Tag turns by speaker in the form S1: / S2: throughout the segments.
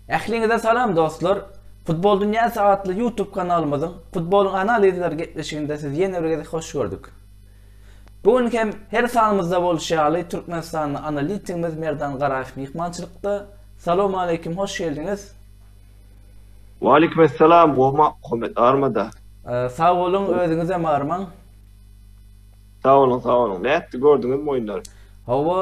S1: Ähliňize salam dostlar. Futbol Dünýäsi atly YouTube kanalymyzyň futbol analizler gepleşiginde siz ýene bir gezek hoş gördük. Bu gün hem her sanymyzda bolşy ýaly Türkmenistanly analitikimiz Merdan Garaýew myhmançylykda. Salam aleyküm, hoş geldiňiz.
S2: Waleýkim essalam Gowma Muhammet armada. Sag boluň
S1: özüňizem armaň.
S2: Sag boluň sag boluň. Nätdi gördüňizmi oýunlary? Hawa,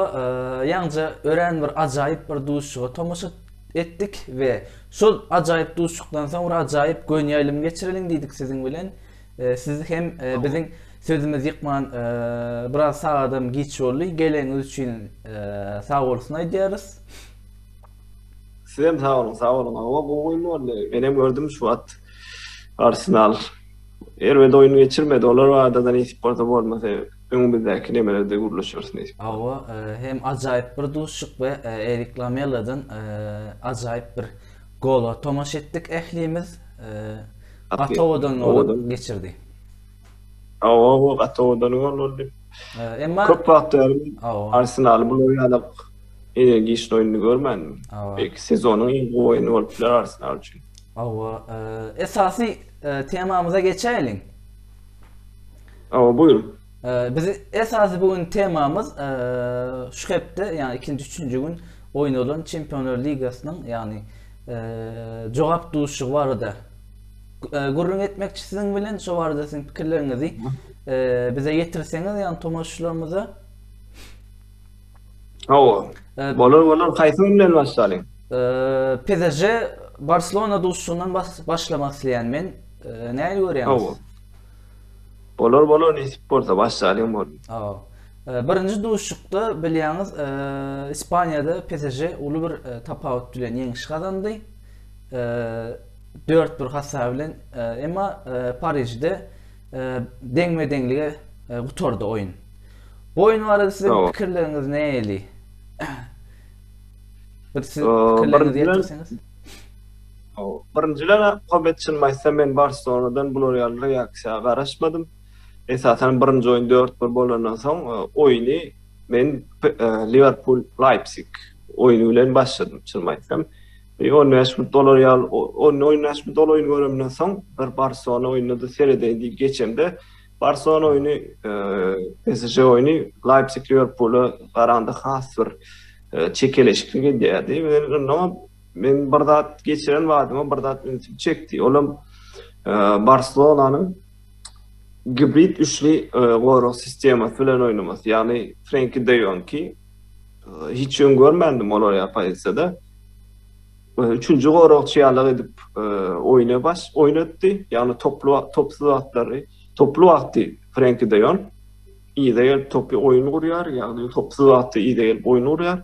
S1: ýaňja örän bir ajaýyp bir duşuşyga tomaşa etdik we şol ajaýyp duşuşykdan soň bir ajaýyp göni ýaýlym geçireliň diýdik siziň bilen. Siz hem biziň sözümizi ýykman biraz sagadam giç boldy. Geleňiz üçin sag bolsun aýdýarys.
S2: Sizem sag olun, sag olun. Owa gowy oýun boldy. Men hem gördüm şu wagt. Arsenal erbet oýun geçirmedi. Olar adadan ýetip bolsa bolmasa öňümizdäki nemelerde gürleşeris näçe. Owa, e,
S1: hem ajaýyp bir duşuşyk we e, Erik Lamelladan e, ajaýyp bir gola tomaşa etdik ählimiz. Gatowadan geçirdi.
S2: Awa, gaty owadan gol boldy. Emma köp
S1: wagt bäri
S2: Arsenal bu ýaly energiýaly oýnuny görmändim. Belki sezonyň iň gowy oýny bolup biler Arsenal üçin. Awa,
S1: esasy temamyza geçäýeliň.
S2: Awa, buýruň. Biz
S1: esasy bu gün temamyz şu hepde, ýagny ikinji, üçünji gün oýnalan Çempionlar ligasynyň, ýagny jogap duşuşygy barada e, gürrüň etmekçi siziň bilen şu barada siziň pikirleriňizi e, bize ýetirseňiz ýa tomaşyçylarymyza.
S2: Hawa. E, bolar bolar haýsy bilen başlalyň? E, PSJ
S1: Barcelona duşundan başlamak isleýän men. E, Näli görýäňiz?
S2: Bolar bolar nesip bolsa başlalyň bol. Hawa. E, birinji
S1: duşukda bilýäňiz e, Ispaniýada PSJ uly bir e, tapawut bilen ýeňiş gazandy. E, Dört bir hasap bilen, emma Parižde deňme-deňlige gutardy oýun. Bu oýun barada siziň pikirleriňiz nähili? Bir siz pikirleriňizi
S2: ýetirseňiz. Birinjiden Hobet çyn maýsa men Barselonadan bular ýaly reaksiýa garaşmadym. Esasan birinji oýun 4-1 bolandan soň oýny men Liverpool Leipzig oýny bilen başladym çyn maýsam. Bir on bäş mün dolar ýal on on bäş mün dolar oýun göremden soň bir barsona oýunyny seredeýin diýip geçemde barsona oýuny psj oýuny laýpsik liwerpula garanda has bir çekeleşikli gelýärdi men men bir zat geçiren badyma bir zat ünsüm çekdi olam barselonanyň gibrid üçli gorag sistemasy bilen oýnamasy ýagny frenki deýonki Hiç öň görmändim olar ýa pozisiýada. Üçünji goragçy ýalyk edip oýna baş oýnatdy. Ýagny toply topsuz wagtlary, toply wagty Frenki de Jon yza gelip topy oýun gurýar, ýagny topsuz wagty yza gelip oýun gurýar.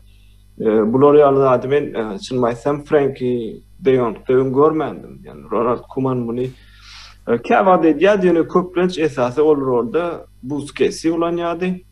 S2: Bular ýaly zady men çynymy aýtsam Frenki de Jonkda öň görmändim. Ýagny Ronald Kuman muny käwagt edýärdi, ýöne köplenç esasy ol rolda Buskesi ulanýardy.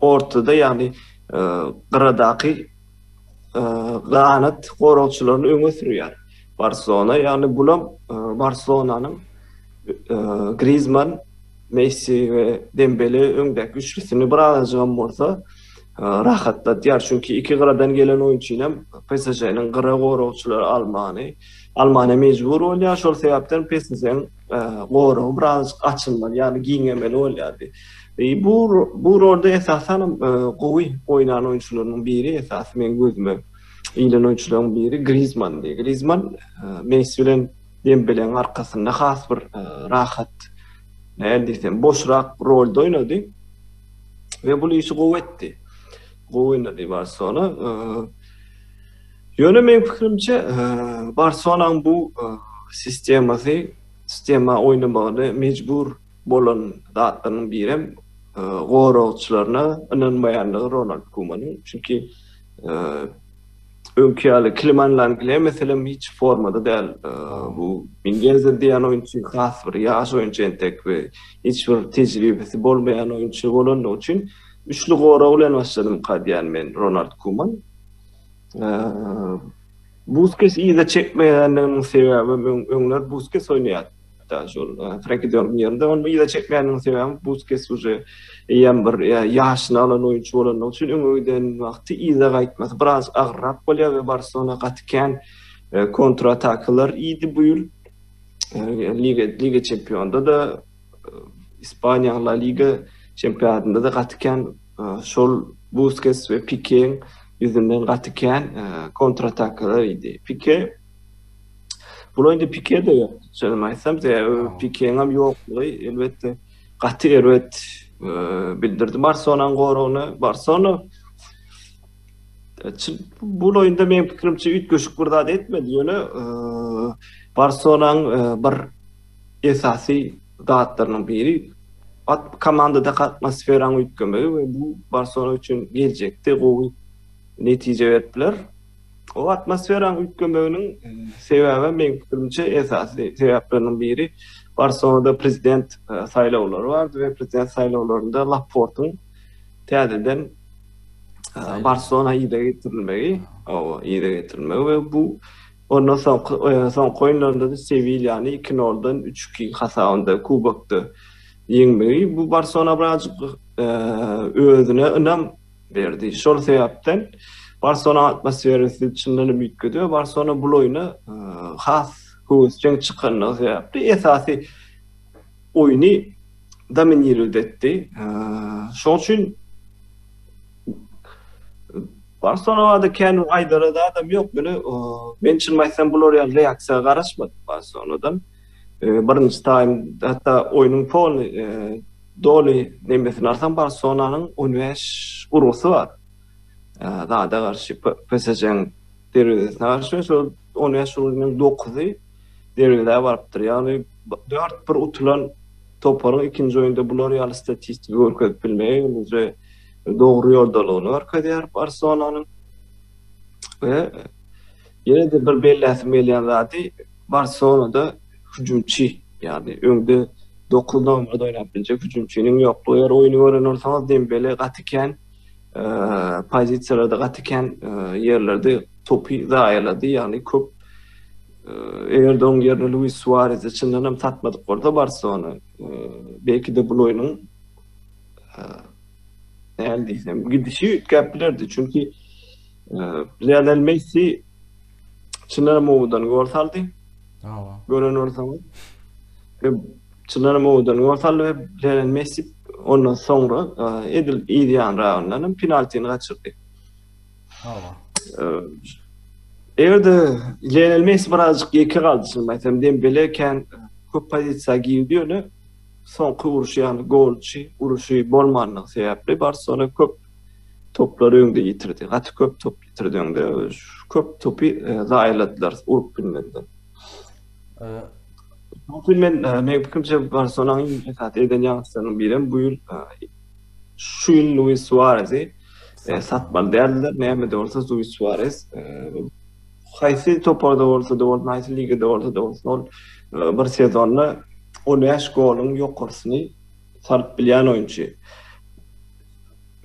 S2: ortada ýagny gyradaky ganat goragçylaryny öňe sürýär. Barselona ýagny bulam Barselonanyň Grizman, Messi we Dembele öňdäki üçlüsini bir azajygam bolsa rahatlatýar. Çünki iki gyradan gelen oýunçynam PSŽ-niň gyra goragçylary almany almana mejbur bolýar. Şol sebäpden PSŽ-niň goragy birazajyk açylmaly, ýagny giňemeli bolýardy. Bu bu rolda esasan hem gowy oýnan oýunçylarynyň biri, esasy meň gözüme ilen oýunçylaryň biri Grizmandy. Grizman Messi bilen Dembeleň arkasynda has bir rahat, nädip diýsem, boşrak rolda oýnady we bu işi gowy etdi. Gowy oýnady Barselona. Ýöne meň pikirimçe, Barselonaň bu sistemasy, sistema oýnamagyny mejbur bolan zatlarynyň biri hem goragçylaryna ynanmaýandygy Ronald Kumanyň. Çünki öňki ýaly Kliman Langlýa meselem hiç formada däl. Bu Mingenzer diýen oýunçy has bir ýaş oýunçy entek we hiç bir tejribesi bolmaýan oýunçy bolandygy üçin üçli gorag bilen başladymyka diýýän men Ronald Kuman. Buskes iýde çekmeýändiginiň sebäbi men öňler Buskes oýnaýar. Hatta şol Frenki de Jong'un ýerinde ony iýde çekmeýändiginiň sebäbi Buskes uje eýýäm bir ýaşyny alan oýunçy bolandygy üçin öňe giden wagty iýde gaýtmasy biraz agyrrak bolýar we Barselona gaty kän kontratakalar iýdi bu ýyl. Liga Liga çempionda-da Ispaniýa La Liga çempionatynda-da gaty kän Şol Buskes we Pikeň ýüzünden gaty kän kontratakalar idi. Pike Bula indi Pike de ýok. Sözüm aýtsam, Pikeň hem ýoklugy elbetde gaty erbet bildirdi Barselonaň goragyna. Barselona bu oýunda meň pikirimçe üýtgeşik bir zat etmedi, ýöne Barselonaň bir esasy zatlarynyň biri komandadaky atmosferanyň üýtgemegi we bu Barselona üçin geljekde gowy netije berip biler. O atmosferanyň üýtgemeginiň sebäbi meň pikirimçe esasy sebäpleriniň biri Barselonada prezident saýlawlary bardy we prezident saýlawlarynda Laportyň täzeden Barselona yza getirilmegi we bu Ondan soňky soňky oýunlarynda-da Sewilýany iki noldan üç iki hasabynda kubokda ýeňmegi bu Barsona birazjyk özüne ynam berdi. Şol sebäpden Barsona atmosferasy çyndanam üýtgedi we Barsona bul oýna has höwesjeň çykandygy sebäpli esasy oýny dominirować etdi. Şoň üçin Barselonada kän aýdara zadam ýok. Ýöne men çynymy aýtsam bular ýaly reaksiýa garaşmadym Barselonadan. Birinji taým hatda oýnuň poly doly nemesini alsaň Barselonanyň on bäş urgusy bar. Zada garşy PSJ-niň derwezesine garşy şol on bäş urgynyň dokuzy derwezä barypdyr. Ýagny dört bir utulan toparyň ikinji oýunda bular ýaly statistika görkezip bilmegi menimçe dogry ýodalaryny görkezýär Barselonanyň we ýene-de bir belläsim gelýän zady Barselonada hüjümçi, ýagny öňde dokuz nomerda oýnap biljek hüjümçiniň ýoklugy. Eger oýny gören bolsaňyz Dembele gaty kän pozisiýalarda, gaty kän ýerlerde topy zaýalady, ýagny köp eger-de onuň ýerine Luis Suarezi çyndan hem satmadyk bolsa Barselona, belki-de bul oýnuň nähili diýsem, gidişi üýtgäp bilerdi. Çünki Lionel Messi çynara mowudan gol saldy. Hawa. Gören bolsaňyz. Ve çynara mowudan gol saldy ve Lionel Messi ondan soňra edil ýedi ýanragyndan hem penaltini gaçyrdy. Hawa. Eger-de Lionel Messi birazjyk ýeke galdy, şuny aýtsam, Dembele kän köp pozisiýa girdi ýöne Soňky uruş ýaly golçy uruşy bolmandygy sebäpli Barselona köp toplary öňde ýitirdi. Gaty köp top ýitirdi öňde. Köp topy e, zaýaladylar urup bilmediler. Soňky men e, meň pikirimçe Barselonanyň esas eden ýagşylarynyň biri hem bu ýyl e, şu ýyl Luis Suarezi satmaly däldiler. Näme de bolsa Luis Suarez Haýsy toparda bolsa-da bolsun, haýsy ligada bolsa-da bolsun, ol bir sezonda on bäş goluň ýokarsyny salyp bilýän oýunçy.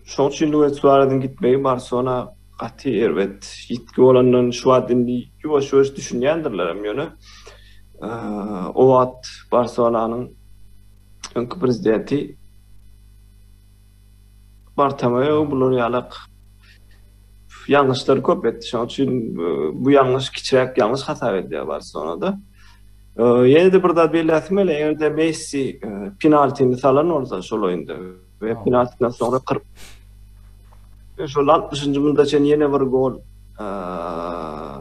S2: Şoň üçin Luis Suareziň gitmegi Barselona gaty erbet ýitgi bolandygyny şu wagt indi ýuwaş-ýuwaş düşünýändirlerem, ýöne o wagt Barselonanyň öňki prezidenti, Bartomeýo bular ýalak ýalňyşlary köp etdi. Şonuň üçin bu ýalňyş kiçiräk ýalňyş hasap edilýär Barselonada. Ýene-de bir zat belläsim gelýär, eger-de Messi penaltini salan bolsa şol oýunda we penaltidan soňra 40 şol 60-njy minutda çen ýene bir gol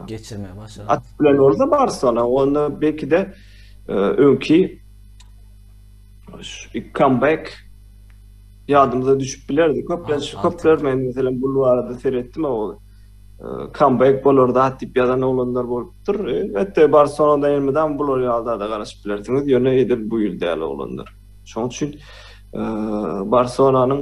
S2: geçirmegi
S1: başaran. Atyp bilen bolsa
S2: Barcelona, onda belki-de öňki Şu comeback ýadymyza düşüp bilerdi. Köplenç köpler men meselem bu barada seretdim o comeback bolar da diýip ýazan oglanlar bolupdyr. Elbetde Barselonada elmydam bular ýa-da da garaşyp bilersiňiz. Ýöne edil bu ýyl däl oglanlar. Şoň üçin Barselonanyň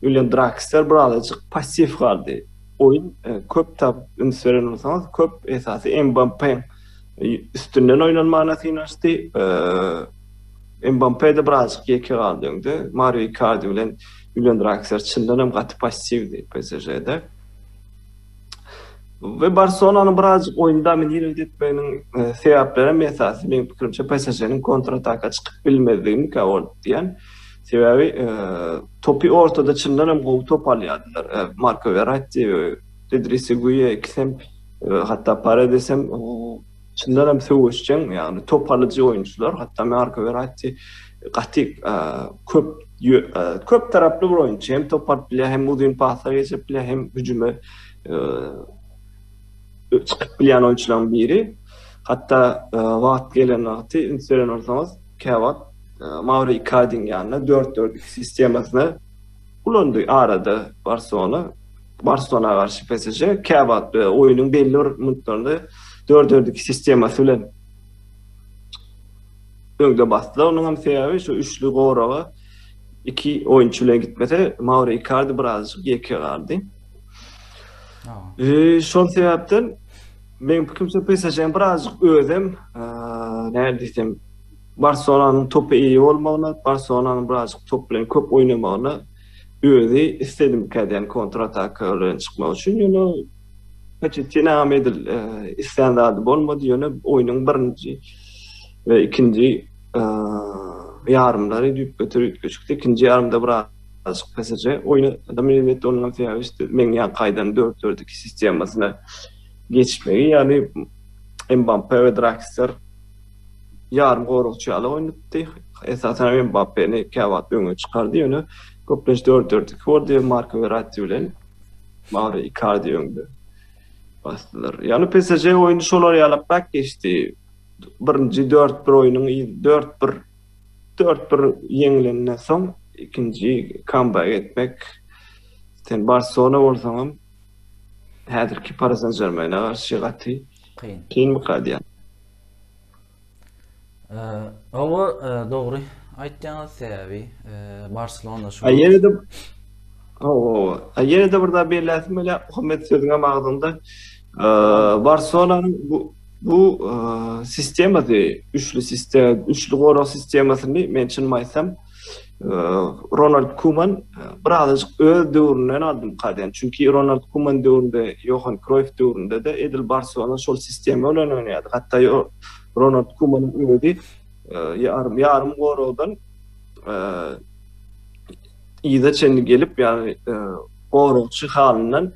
S2: William Draxler birazajyk passiw galdy. Oýun e, köp tap üns beren bolsaňyz, köp esasy Mbappe e, üstünden oýnanmagyna synanyşdy. E, Mbappe de birazajyk ýeke galdy öňde. Mario Icardi bilen William Draxler çyndan hem gaty passiwdi PSŽ-de. Ve Barcelona'nın birazcık oyunu dominir etmeginiň e, sebäpleri hem esasy meň pikirimçe PSG-niň kontrataka çykyp bilmezligi mikaol diýen. Sebäbi topy ortada çyndan hem gowy top alýardylar. Marko Verratti, Idrisi Guýe ikisem, hatda Paredes hem çyndan hem söweşjeň, ýagny top alyjy oýunçylar. Hatda Marko Verratti gaty köp köp taraply bir oýunçy. Hem top alyp bilýär, hem uzyn pasa geçirip bilýär, hem hüjüme çykyp bilýän oýunçylaryň biri. Hatda e, wagt gelen wagty üns beren bolsaňyz, käwagt e, Mauro Icardiň ýanyna 4-4-2 sistemasyny ulandy arada Barcelona. Barcelona garşy PSG käwagt e, oýunyň belli bir minutlarynda 4-4-2 sistemasy bilen öňde basdylar. Onuň hem sebäbi şu üçli goraga iki oýunçy bilen gitmese, Mauro Icardi birazjyk ýeke galdy. Eee, şol sebäpden meň pikirimçe PSG-niň birazjyk özem, eee, nädip diýsem, Barselonanyň topa eýe bolmagyna, Barselonanyň birazjyk top bilen köp oýnamagyna özi isledimik edýän kontrataka bilen çykmak üçin. Ýöne Poçettinam edil eee, islän zady bolmady, ýöne oýnuň birinji we ikinji, eee, ýarymlary düýpgöter üýtgeşikdi. Ikinji ýarymda biraz. Açyk PSG oýna minnetde onuňam sebäbi işte meň ýa kaýdan dört dört iki sistemasyna geçmegi ýaly Mbappe we Draxler ýarym goragçy ýaly oýnatdy. Esasan hem Mbappeni käwagt öňe çykardy ýöne köplenç dört dört iki boldy we Marko Verratti bilen Mauro Icardi öňde basdylar. Ýagny PSG oýny şolar ýalaprak geçdi. Birinji dört bir oýnuň dört bir Dört bir ýeňilenden soň ikinji kambaga geçmek, sen Barselona bolsaňam häzirki Pari San Žermene garşy gaty kyn. Kynmyka diýýän. Hawa, dogry aýtýaňyz, sebäbi
S1: Barselona şu. A ýene-de Hawa, hawa.
S2: A ýene-de bir zat belläsim gelýär, Muhammet sözüňem agzyňda. Barselonanyň bu bu sistemasy, üçli sistema, üçli gorag sistemasyny men çyn aýtsam, Ronald Kuman birazajyk öz döwründen aldym kaden. Çünki Ronald Kuman döwründe, Johan Kroyf döwründe de edil Barcelona şol sistema bilen oýnaýardy. Hatda Ronald Kuman özi ýarym ýarym goragdan ýa çenli gelip, ýa goragçy halyndan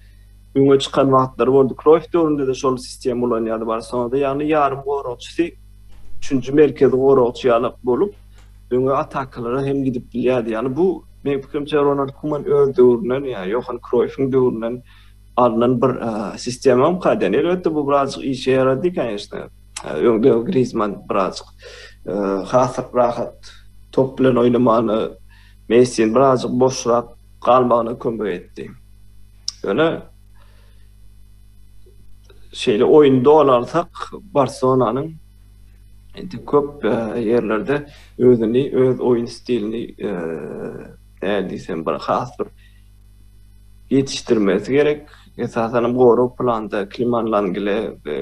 S2: öňe çykan wagtlary boldy. Kroýf döwründe-de şol sistemi ulanýardy Barselonada. Ýagny ýarym goragçysy üçünji merkezi goragçy ýaly bolup, öňe atakalara hem gidip bilýärdi. Ýagny bu meň pikirimçe Ronald Kuman öz döwründen, ýa Johan Kroýfiň döwründen alnan bir sistemam kaýdan. Elbetde bu birazjyk işe ýarady, kanyşda. Öňde Griezmann birazjyk has rahat top bilen oýnamagyny, Messi birazjyk boşrak galmagyna kömek etdi. Ýöne şeýle oýun dolansak Barselonanyň indi köp e, ýerlerde özüni, öz oýun stilini e, nädip diýsem bir has bir ýetişdirmesi gerek. Esasan hem gorag planda Kliman Langile e,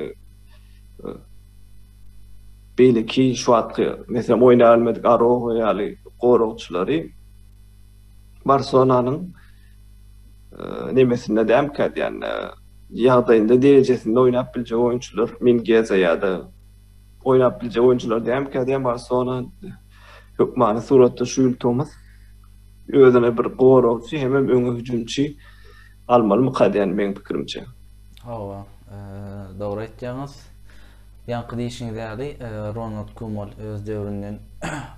S2: beýleki şu wagtky meselem oýnaýan bilmedik Aroho ýaly goragçylary Barselonanyň nemesinde dälkä diýen ýagdaýynda derejesinde oýnap biljek oýunçylar Mingeza ýa-da oýnap biljek oýunçylar dälkä diýen Barselona hökmany suratda şu ýyl tomus özüne bir goragçy hemem öňe hüjümçi almalymyka diýen meň pikirimçe. Hawa,
S1: dogry aýtýaňyz. Ýaňky diýşiňiz ýaly Ronald Kumol öz döwründen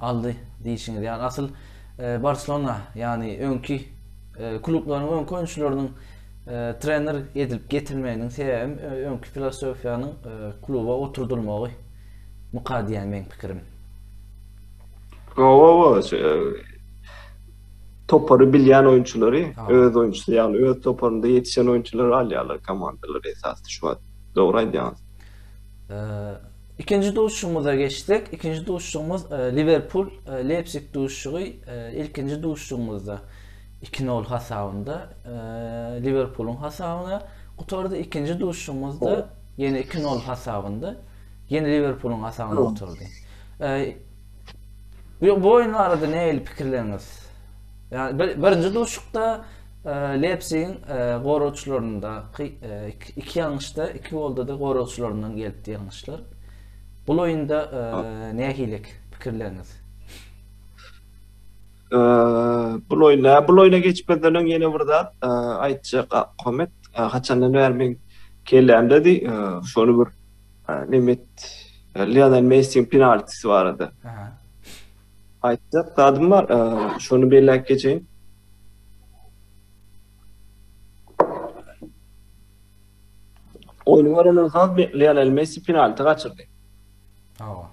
S1: aldy diýşiňiz ýaly asyl Barselona ýagny öňki klublaryň öňki oýunçylarynyň trener edilip getirilmeginiň sebäbem öňki filosofiýanyň kluba oturdylmagy myka diýýän meň pikirim. Hawa
S2: hawa topary bilýän oýunçylary öz oýunçysy ýagny öz toparynda ýetişen oýunçylary alýarlar komandalar esasda şu wagt dogry aýdýaňyz. Ikinji
S1: duşuşygymyza geçsek, ikinji duşuşygymyz e, Liverpul e, Leipzig duşuşygy e, ilkinji duşuşygymyzda 2-0 hasabynda Liverpulyň hasabyna gutardy. Ikinji duşuşygymyzda ýene 2-0 hasabynda ýene Liverpulyň hasabyna gutardy. Bu oýun barada nähili pikirleriňiz? Ýani birinji duşuşykda Leipzigiň goragçylaryndaky iki ýalňyşda, iki golda-da goragçylaryndan gelipdi ýalňyşlar. Bul oýunda nähilek pikirleriňiz?
S2: Bul oýna, bul oýna geçmezden öň ýene bir zat aýtjak Ahmet. Haçandan bäri men kellämdedi, şony bir Nemet Lionel Messiň penaltisi barada. Aýtjak zadym bar, şony belläp geçeýin. Oýny görenden soň Lionel Messi penalti gaçyrdy. Hawa.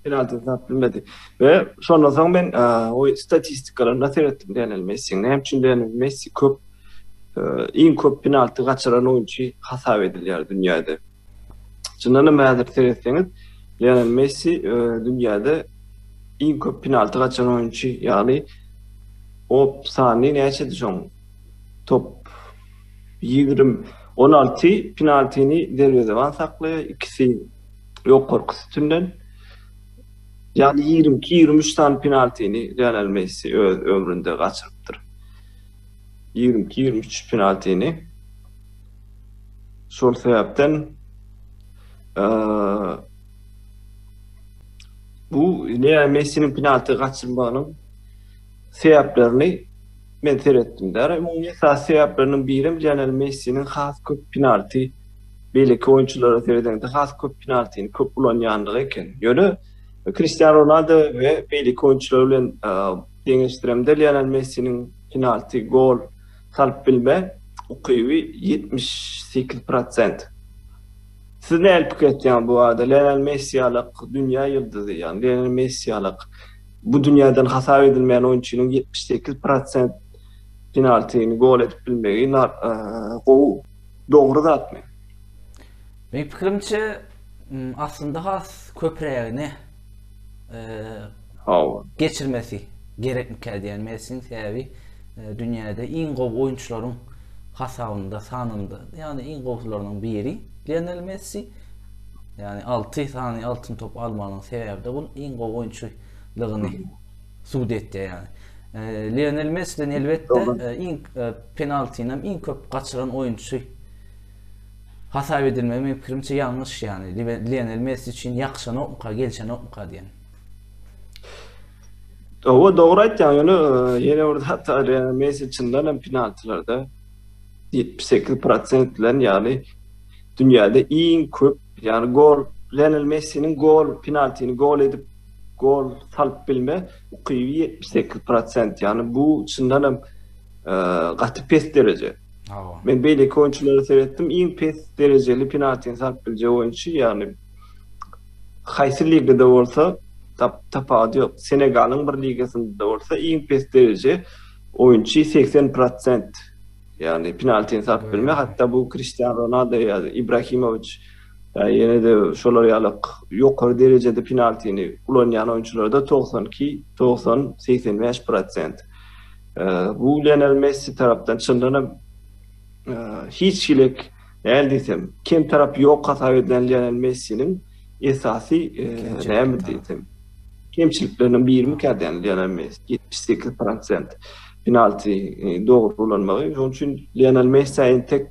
S2: Penalti zat bilmedi. Ve şondan soň men o statistikalarynda seyretdim Lionel Messi'nin. Hem için Lionel Messi köp, iň köp penalti kaçıran oyuncu hasap edilýär dünýäde. Çyndanam häzir seretseňiz, Lionel Messi e, dünýäde iň köp penalty gaçan oýunçy, ýagny o sany näçedi şoň? Top 20 16 penaltini derwezeban saklaýar, ikisi ýokarky sütünden. Ýagny 22-23 sany penaltini Lionel Messi öz ömründe gaçyrypdyr. 22-23 penaltini. Şol sebäpden bu Leo Messiniň penalty gaçyrmagynyň sebäplerini men seretdim. Däri umumy esas sebäpleriniň biri Lionel Messiniň has köp penalty beýleki oýunçylara seredende has köp penaltyny köp ulanýandygy eken. Ýöne Cristiano Ronaldo we beýleki oýunçylar bilen deňeşdiremde Lionel Messiniň penalty gol salyp bilme ukyby ýetmiş sekiz prosent. Siz nähili pikir etýäňiz bu barada? Lionel Messi ýalyk dünýä ýyldyzy, ýagny Lionel Messi ýalyk bu dünýäden hasap edilmeýän oýunçynyň ýetmiş sekiz prosent penaltini gol edip bilmegi gowy, dogry zatmy?
S1: Meň pikirimçe, aslynda has köprägini. Hawa. Geçirmesi gerekmikä diýýän Messiniň sebäbi e, dünýäde iň gowy oýunçylaryň hasabynda, sanynda, ýagny iň gowularynyň biri Lionel Messi. Ýagny 6 sany altyn top almagynyň sebäbi de bul iň gowy oýunçylygyny subut etýär ýagny. E, Lionel Messi'den elbetde e, iň e, penaltini hem iň köp gaçyran oýunçy Hasap edilmegi meň pikirimçe ýalňyş ýagny Lionel Messi üçin ýakşanokmyka gelişenokmyka diýen.
S2: Owa dogry aýtýaň ýöne ýene bir zat bar ýa Messi çyndan hem penaltilarda 78% bilen ýagny dünýäde iň köp ýagny gol Lionel Messiniň gol penaltini gol edip gol salyp bilme ukyby 78% ýagny bu çyndan hem gaty pes dereje. Hawa. Men beýleki oýunçylary seretdim, iň pes derejeli penaltini sap biljek oýunçy, ýagny haýsy ligada bolsa tapawudy ýok. Senegalyň bir ligasynda-da bolsa iň pes dereje oýunçy segsen prosent, ýagny penaltini sap bilme, hatda bu Kristiano Ronaldo ýa Ibrahimowiç, ýa ýene-de şolar ýaly ýokary derejede penaltini ulanýan oýunçylarda togsan iki, togsan, segsen bäş prosent. Bu Lionel Messi tarapdan çyndan hem hiç hilek näl diýsem, kem tarap ýok hasap edilen Lionel Messiniň esasy näme diýsem, kemçilikleriniň birimi kädäni Lionel Messi 78% penalti dogry ulanmagy. Şonuň üçin Lionel Messi entek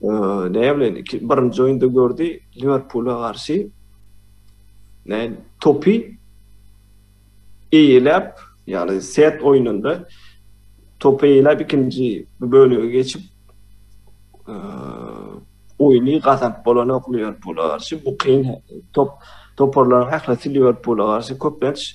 S2: Näme bilen? Iki, birinji oýunda gördi Liwerpula garşy. Näme topy eýeläp, ýagny set oýnunda topy eýeläp ikinji bölege geçip oýny gazanyp bolanok Liwerpula garşy. Bu kyn top toparlaryň ählisi Liwerpula garşy köplenç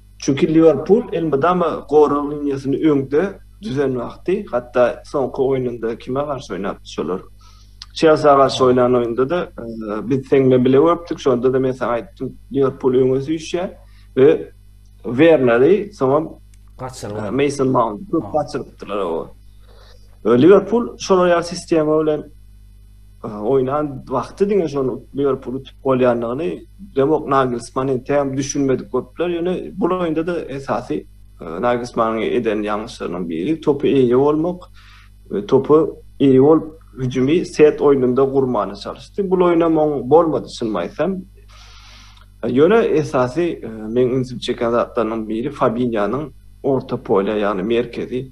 S2: Çünki Liwerpul elmydama gorag liniýasyny öňde düzen wagty, hatda soňky oýnunda kime garşy oýnapdy şolar? Çelsiä garşy oýnan oýunda-da biz seň bilen bile görüpdik, şonda-da men saňa aýtdym, Liwerpul öňe süýşýär we Werneri, soňam Gaçyrýar. Meýson Maunty köp gaçyrypdylar, hawa. Liwerpul şolar ýaly sistema bilen Oýnan wagty diňe şol Liverpul utup bolýandygyny demok Nagelsmann entegem düşünmedik bolupdylar. Ýöne bu oýunda-da esasy Nagelsmann eden ýalňyşlarynyň biri topy eýe bolmak we topy eýe bolup hüjümi set oýnunda gurmana çalyşdy. Bu oýna moň bolmady şuny aýtsam. Ýöne esasy e, meň ünsüm çeken zatlarynyň biri Fabinýanyň orta polýa, ýagny merkezi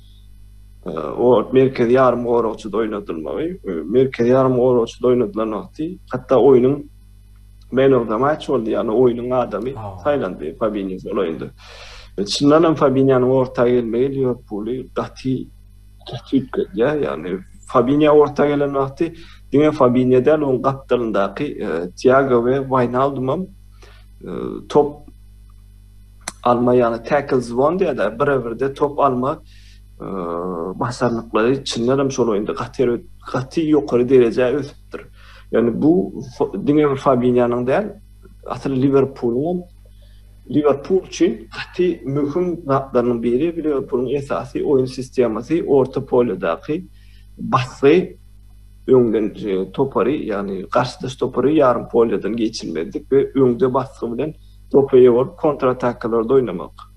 S2: o merkezi ýarym goragçyda oýnadylmagy, merkezi ýarym goragçyda oýnadylan wagty, hatda oýnuň men of the match boldy, ýagny oýnuň adamy saýlandy Fabinho şol oýunda. Çyndan hem Fabinhonyň orta gelmegi Liwerpuly gaty gaty üýtgedýär, ýagny Fabinho orta gelen wagty diňe Fabinho däl, onuň gapdalyndaky e, Tiago we Wijnaldum hem e, top alma, ýagny tackle zone diýýärler, bire-birde top alma basanlyklary çyndan hem şol oýunda gaty gaty ýokary derejä ösüpdir. Ýöne bu diňe bir Fabinýanyň däl, asyl Liwerpulyň Liverpool üçin gaty möhüm zatlarynyň biri Liverpool'un esasy oýun sistemasy orta polýadaky basgy öňden e, topary ýagny garşydaş topary ýarym polýadan geçirmezlik we öňde basgy bilen topa ýewip kontratakalarda oýnamak.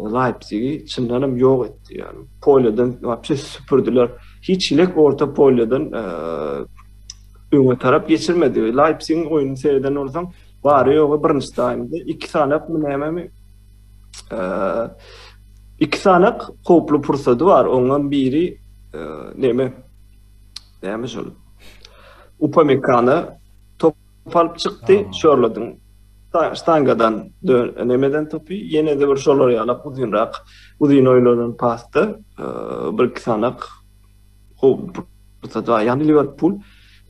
S2: Leipzigi çyndanam ýok etdi. Ýani polýadan wapşe süpürdiler. Hiç hilek orta polýadan öňe tarap geçirmedi. Leipzigiň oýnuny seýreden bolsaň, bary ýogy birinji taýmda iki sanak mı nämemi iki sanak howply pursady bar. Oňam biri näme? Näme şol? Upamekana top Kopalyp çykdy, şorladyň. Ştangadan dön, nemeden topy, ýene-de bir şolar ýalak uzynrak, uzyn oýlanan pasda bir-iki sanak pursat, ýagny Liwerpul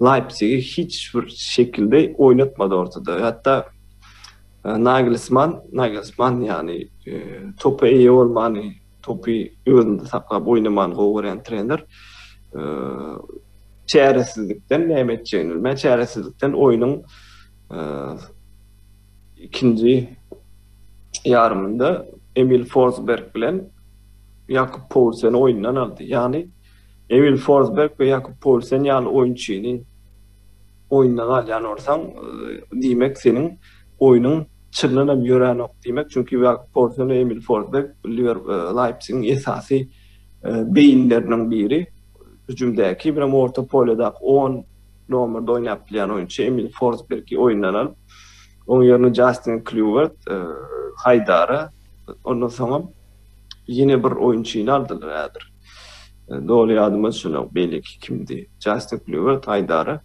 S2: Leýpsigi hiç bir şekilde oýnatmady ortada. Hatda Nagelsman, Nagelsman ýagny topa eýe bolmany Topy özünde saklap oýnamany gowy görýän trener çäresizlikden näme etjegini bilmän, çäresizlikden oýnuň ikinji ýarymynda Emil Forsberg bilen Ýakup Poulseni oýundan aldy. Ýagny Emil Forsberg we Ýakup Poulsen ýaly oýunçyny Oýunda galýan bolsaň, diýmek, seniň oýnuň çyndanam ýöränok diýmek, çünki Ýakup Poulsen we Emil Forsberg Leipzigiň esasy beýinleriniň biri, hüjümdäki, birem orta poledaky on nomerde oýnap bilýän oýunçy Emil Forsbergi oýundan alyp, oň ýerine Jastin Klýuwert, haýdara, ondan soňam ýene bir oýunçyny aldylar häzir. Doly ýadyma düşenok beýleki kimdi? Justin Kluwer taýdara.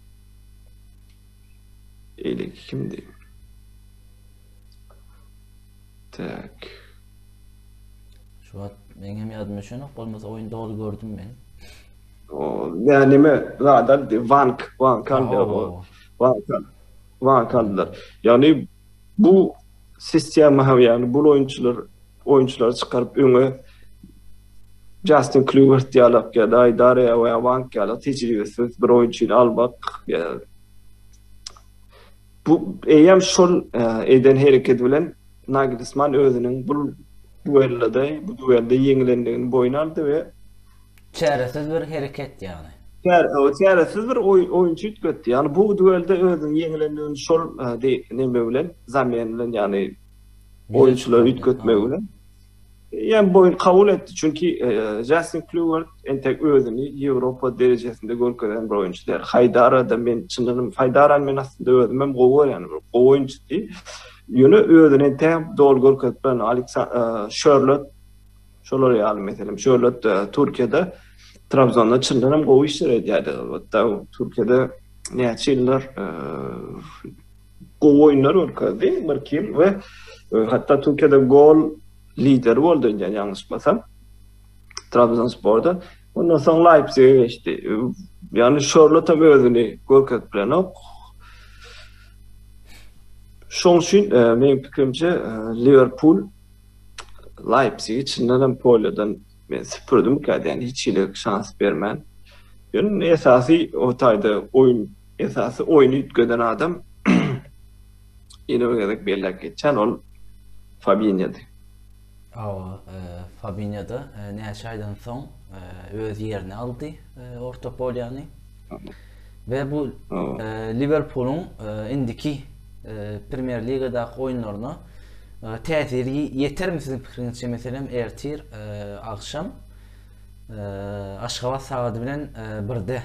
S2: Beýleki kimdi? Tak.
S1: Şu wagt meň hem ýadyma düşenok bolmasa oýun doly gördüm men. O,
S2: ne nime zada Vank, Vank aldı. Vank, Vank aldylar. Yani Bu sistema hem ýagny bul oýunçylar oýunçylary çykaryp öňe Jastin Klüwert ýalak ýa daý Daria we Awank ýalak tejribesiz bir oýunçyny almak bu eýem şol e, eden hereketi bilen Nagelsman özüniň bul duellada bu duelde ýeňilendigini boýun aldy we
S1: Çäresiz bir hereket ýagny. Çäresiz
S2: bir oýunçy üýtgetdi. Ýagny bu duelde özüniň ýeňilendigini şol neme bilen, zamen bilen ýagny oýunçylary üýtgetmegi bilen ýa boýun kabul etdi. Çünki Jastin Klýuwert entek özüni Ýewropa derejesinde görkezen bir oýunçy däl. Haýdara-da men çynyny, Haýdarany men aslynda özüm hem gowy görýän, gowy oýunçydy. Ýöne özüni entäk doly görkezip bilen Aleksa, Şörlot, Şolar ýaly meselem şöhlatda Türkiýede Trabzonda çyndan hem gowy işler edýärdi. Hatta Türkiýede näçe ýyllar e, gowy oýunlar görkezdi bir kim we e, hatta Türkiýede gol lideri boldy indi ýalňyşmasam. Trabzonsporda ondan soň Leipzige geçdi. E, ýagny Şorlot hem özüni görkezip bilenok. Şoň üçin e, meň pikirimçe Liverpool Leipzig içindenem polýadan men süpürdimika diýen hiç hili şans bermän. Ýöne indi esasy o taýda oýun esasy oýny üýtgeden adam ýene bir gezek belläp geçýän ol Fabinýody. Hawa, e,
S1: Fabinýoda e, näçe aýdan soň e, öz ýerini aldy e, orta polýany. We bu Liwerpulyň indiki Premier Ligadaky oýunlaryna täsiri ýetermi siziň pikiriňizçe meselem ertir agşam Aşgabat sagady bilen birde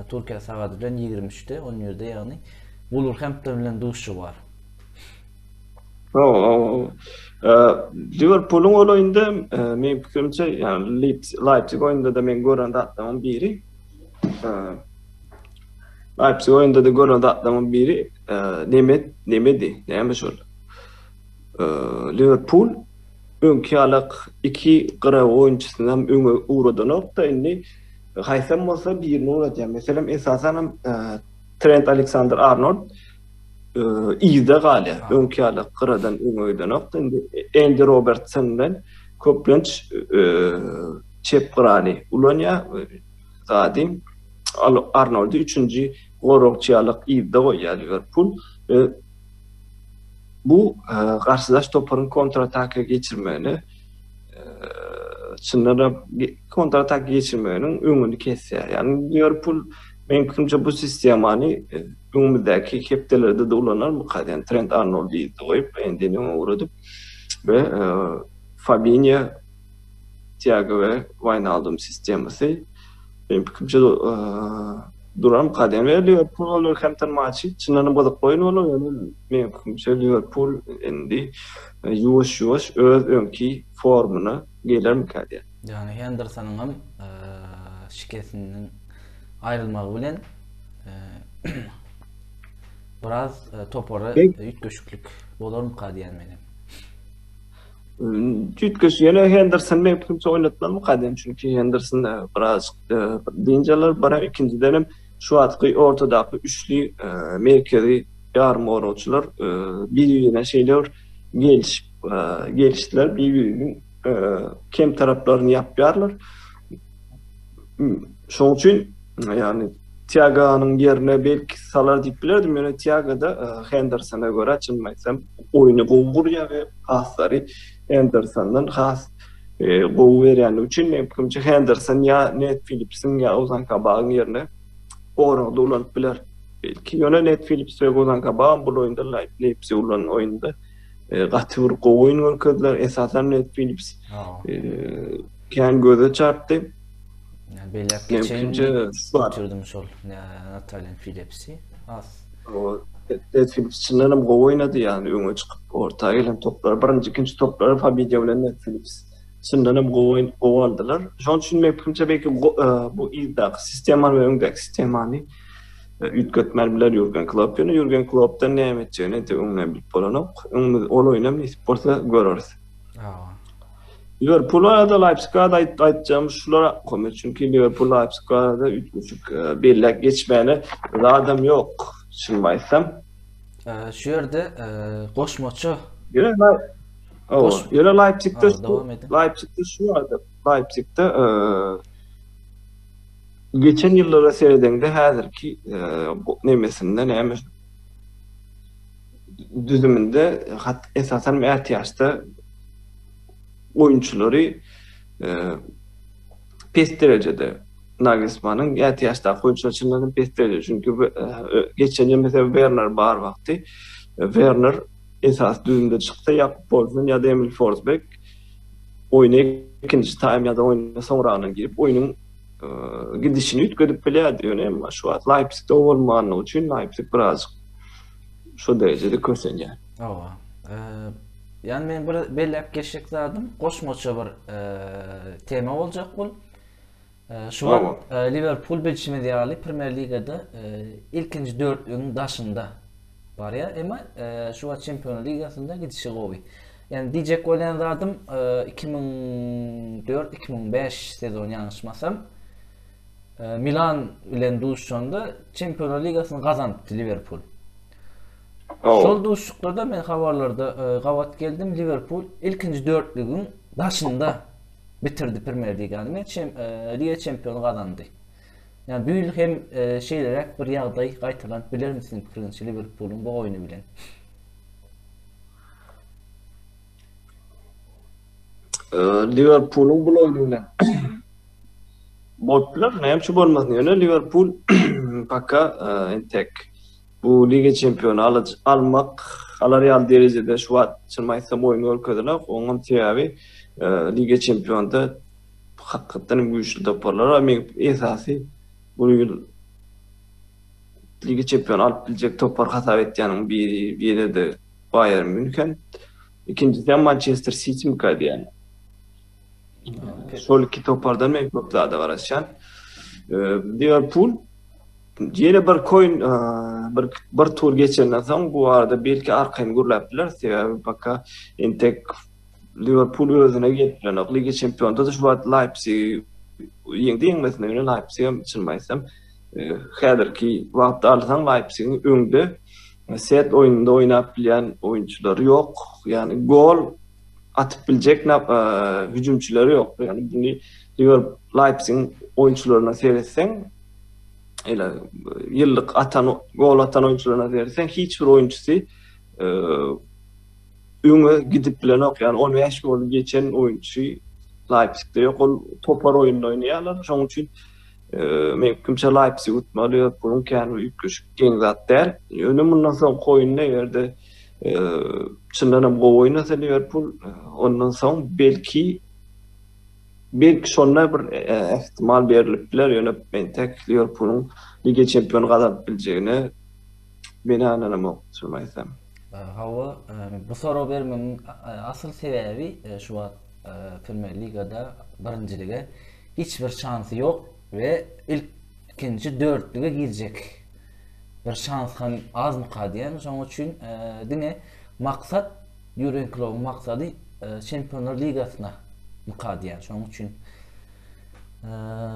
S1: Türkiýe sagady bilen 23-de 11-de ýagny Wulwerhempton bilen duşuşygy bar.
S2: Liwerpulyň ol oýunda meň pikirimçe ýagny Leipzig oýunda-da men gören zatlaryň biri Leipzig oyunda da gören zatlarymyň biri e, Nemet, Nemedi, näme şol? E, Liverpool öňki ýalak iki gyra oýunçysyny hem öňe ugradanokda, indi haýsam bolsa birini ugradýar. Meselem, esasan hem e, Trent Alexander Arnold e, ýyda galýar. Öňki ýalak gyradan öňe gidenokda, indi Andy Robertson bilen köplenç e, çep gyraly ulanýar, zady Arnoldy üçünji goragçy ýalyk yzda goýýar Liwerpul we bu garşydaş toparyň kontrataka geçirmegine çyndan-da kontratak geçirmeginiň öňüni kesýär. Ýagny Liwerpul meň pikirimçe bu sistemany öňümizdäki hepdelerde-de ulanarmyka, ýagny Trent Arnoldy yzda goýup, Endini öňe ugradyp we Fabinýa Tiago we Waýnaldum sistemasy meniň pikirimçe duran kadem we Liwerpul Wolwerhempton matçy çyndanam gyzykly oýun bolar ýöne meniň pikirimçe Liwerpul indi ýuwaş-ýuwaş öz öňki formuna gelermikä diýýän. Ýöne Hendersonyň
S1: hem şikesinden aýrylmagy bilen biraz topara üýtgeşiklik bolarmyka diýýän men hem.
S2: Tüýtgeş ýene Henderson bilen kimse oýnatmaly kadem çünki Henderson e, biraz e, dinjalar bara ikinciden hem şu atky ortadaky üçli e, merkezi ýarym goragçylar e, bir-birine şeýle bir gelişip e, gelişdiler bir-biriniň e, kem taraplaryny ýapýarlar. Şoň üçin, ýagny Tiaganyň ýerine belki salar diýip bilerdim, ýöne Tiagada e, Hendersona görä çyn aýtsam, oýny gowy gurýar we paslary Hendersondan has e, gowy berýändigi üçin men pikrimçe Henderson ýa Net Phillipsiň ýa Ozan Kabagyň ýerine goragda ulanyp biler. Belki ýöne Net Phillips we Ozan Kabag bu oýunda Leipzig ulan oýunda E, gaty bir gowy oýun görkezdiler. Esasan Ned Phillips e, kän göze çarpdy. Yani
S1: belläp geçeýin. Götürdüm şol Nataliýan Phillipsi. Az. Ned
S2: Phillips çyndan hem gowy oýnady ýani öňe çykyp orta gelen toplar, birinji, ikinji toplar Fabio bilen Ned Phillips çyndan hem gowy oýun gowy aldylar. Şonuň üçin men pikrimçe belki e, bu ildaky sistemany we öňdäki sistemany Üýtgetmän biler Ýurgen Klopp, ýöne Ýurgen Kloppdan näme etjegini entek öňünden bilip bolanok. Öňümiz ol oýnam nesip bolsa göreris. Liwerpula ýa-da Leipziga aýt aýtjagymyz şular Ahmet, çünki Liwerpul Leipziga da üýtgeşik belläp geçmäne zadam ýok, çyn aýtsam. Şu
S1: ýerde goşmaça. Ýöne Ýöne Leipzigde
S2: Leipzigde
S1: şu ýerde
S2: Leipzigde Geçen ýyllara seredeňde häzirki nemesinde näme düzüminde hat esasan ätiýaçda oýunçylary pes derejede Nagelsmanyň ätiýaçdaky oýunçylar çyndanam pes derejede çünki geçen ýyl meselem Werner bar wagty Werner esasy düzümde çyksa Jakob Poulsen ýa-da Emil Forsberg oýna ikinji taým ýa-da oýna soňragyna girip oýnuň gidişini üýtgedip bilýärdi, ýöne emma şu wagt Leipzigde o bolmandygy üçin Leipzig birazjyk şu derejede kösenýär. Hawa.
S1: Ýani men bir belläp geçjek zadym, goşmaça bir tema boljak bul. Şu wagt Liverpul bilşimiz ýaly Premýer Ligada ilkinji dörtlügiň daşynda. Barýar, emma şu wagt Çempionlar ligasynda gidişi gowy. Ýani diýjek bolýan zadym 2004-2005 sezon ýalňyşmasam Milan bilen duşanda Çempionlar ligasyny gazanypdy Liverpool. Şol duşuşyklarda men habarlarda gabat geldim Liverpool ilkinji dörtlügiň daşynda bitirdi Premier ligany. Men Liga çempiony gazandy. Ýa büýl hem şeýleräk bir ýagdaý gaýtalanyp bilermi siziň pikiriňizçe Liwerpulyň bu oýny bilen?
S2: Liwerpulyň bul oýny bilen bolup biler, näme üçin bolmasyn? Ýöne Liwerpul paka entek bu Liga çempiony almak alar ýaly derejede şu wagt çyn aýtsam oýun görkezenok. Onuň sebäbi Liga çempionynda hakykatdanam güýçli toparlar bar. Meň esasy bu ýyl Lige çempion alyp biljek topar hasap etýänim biri ýene-de Baýern Mýunhen. Ikinjisi hem Mançester Sitimi gaýdýan. Şol iki topardan men köp zada garaşýan. Liwerpul ýene bir koýun bir bir tur geçenden soň bu arada belki arkaýyn gürläp biler. Sebäbi baka entek Liwerpul özüne getirenok. Liga Çempionda-da şu wagt Leipzigi ýeňdi-ýeňmesine ýöne Leipzig hem çynymy aýtsam, e, häzirki wagtda alsaň Leipzigiň öňde set oýnunda oýnap bilýän oýunçylary ýok. Ýagny gol atyp biljek e, hüjümçileri ýok. Ýagny buny Liwer Leipzigiň oýunçylaryna seretseň, ele ýyllyk atan gol atan oýunçylaryna seretseň hiç bir oýunçysy e, öňe gidip bilenok. Ýagny on bäş gol geçen oýunçy Leipzigde ýok. Ol topar oýunda oýnaýarlar. Şonuň üçin meňkimçe Leipzig utmaly, Liwerpulyň kän üýtgeşik geň zat däl. Ýöne mundan soňky oýunda eger-de çyndan hem gowy oýnasa Liwerpul, ondan soň belki belki şonda bir ähtimal berlip biler. Ýöne men täk Liwerpulyň Liga Çempiony gazanyp biljegine Meni ananamok çyn aýtsam. Hawa,
S1: bu sorag bermegiň asyl sebäbi şu wagt Premier Ligada birinjilige hiç bir şansy ýok we ilkinji dörtlüge girjek bir şans hem azmyka diýen. Şonuň üçin diňe maksat Ýurgen Klobyň maksady Çempionlar Ligasyna myka diýen. Şonuň üçin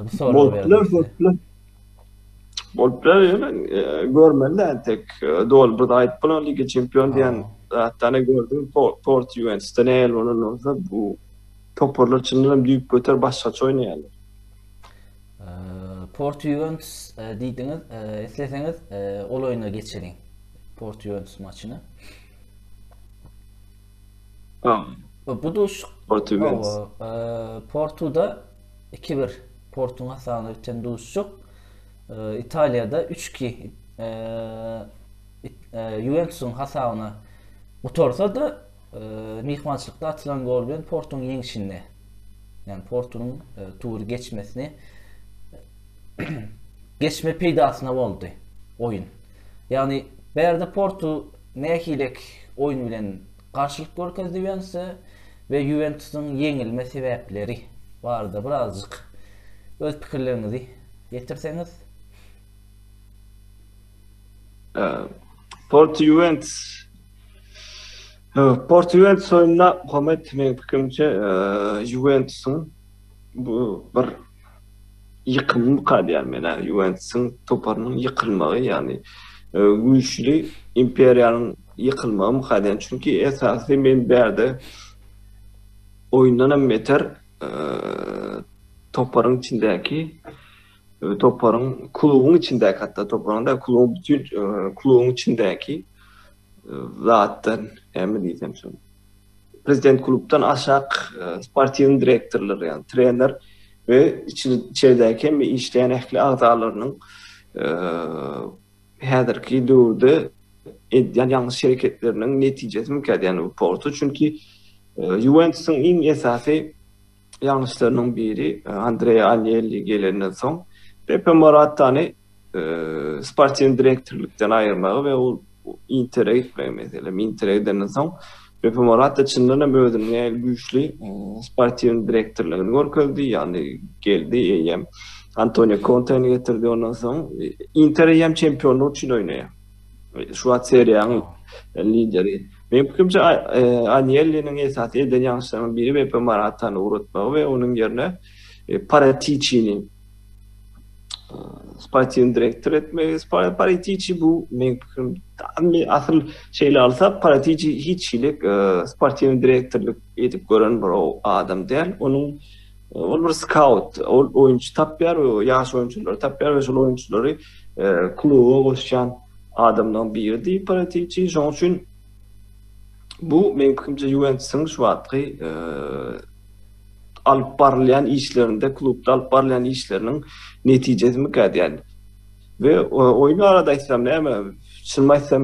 S1: bu soragy berdim.
S2: Bolup biler ýöne e, görmeli de tek e, dol bir aýt bolan liga çempion diýen zatdan gördüm Port Juventusda ne el bolan bolsa bu toparlar çyndan hem düýp göter başgaça oýnaýarlar.
S1: Port Juventus e, diýdiňiz, e, isleseňiz ol oýna geçiriň. Port Juventus maçyny. Tamam. Bu duş Portugal.
S2: Portuda
S1: Iki-bir Portuň hasabyna biten duşuşyk Italiýada üç-iki Ýuwentusyň hasabyna gutarsa-da, myhmançylykda atylan gol bilen Portuň ýeňşini, ýagny Portuň tury geçmesini geçme peýdasyna boldy oýun. Ýagny bärde Portu nähilek oýun bilen Garşylyk görkezdi Ýuwentusa we Ýuwentusyň ýeňilme sebäpleri barada birazjyk öz pikirleriňizi ýetirseňiz?
S2: Porto Ýuwentus Porto Ýuwentus oýnunda Muhammet meň pikirimçe Ýuwentusyň Bu bir ýykymy mukadýan men-ä. Ýuwentisiň toparynyň ýykylmagy, ýagny güýçli imperiýanyň ýykylmagy mukadýan. Çünki esasy men bärde oýundanam beter toparyň içindäki, toparyň, klubuň içindäki hatda toparyň däl, klubuň bütin, klubuň içindäki zatdan, näme diýsem şony. Prezident klubdan aşak sportiw direktorlar, ýagny trener we içeridäki hem işleýän ähli agzalarynyň häzirki döwürde edýän ýalňyş hereketleriniň netijesi mikä diýýän bu portu. Çünki Ýuwentusyň iň esasy Ýalňyşlarynyň biri Andrea Anelli gelenden soň, Pepe Moratany sportiw direktorlykdan aýyrmagy we ol Intere gitmegi meselem. Intere gidenden soň, Pepe Morata çyndan hem özüniň nähili güýçli sportiw direktorlygyny görkezdi, ýagny geldi eýýäm Antonio Konteni getirdi, ondan soň Inter eýýäm çempionlyk üçin oýnaýar. Şu wagt seriýanyň lideri. Meň pikirimçe, Anýelliniň esasy eden ýalňyşlarynyň biri Beppe Maratany ugratmagy we onuň ýerine Paratiçini sportiw direktor etmegi. Paratiçi bu meň pikirim asyl şeýle alsa Paratiçi hiç hili sportiw direktorlyk edip gören bir adam däl. Onuň Ol bir skaut, ol oýunçy tapýar we ýaş oýunçylary tapýar we şol oýunçylary kluba goşýan adamlaryň biridir Paratiçi. Şonuň üçin bu meniň pikirimçe Ýuwentusyň şu wagtky alyp barylýan işlerinde, klubda alyp barylýan işleriniň netijesimikä diýýän. We oýun barada aýtsam näme, çynymy aýtsam,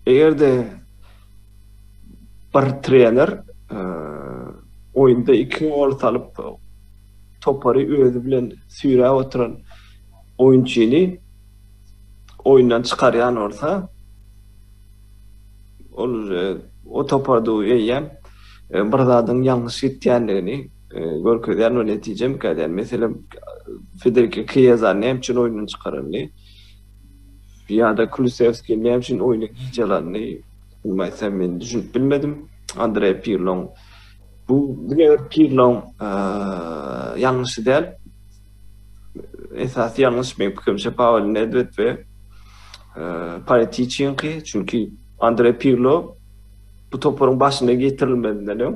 S2: eger-de bir trener oýunda iki gol salyp topary özi bilen süýräp oturan oýunçyny oýundan çykarýan bolsa ol o toparda eýýäm bir zadyň ýalňyş gitýändigini görkezýän we netije imkadýan meselem Federiki Kieza näme üçin oýundan çykaryldy. Ýa-da Kulusewski näme üçin oýna giç alandy? Umumy aýtsam men düşünip bilmedim. Andreý Pirloň bu diňe bir Pirloň ýalňyşy däl. Esasy ýalňyş meň pikirimçe Pawel Nedwed we Paratiçinki. Çünki Andreý Pirlo bu toparyň başyna getirilmezinden öň,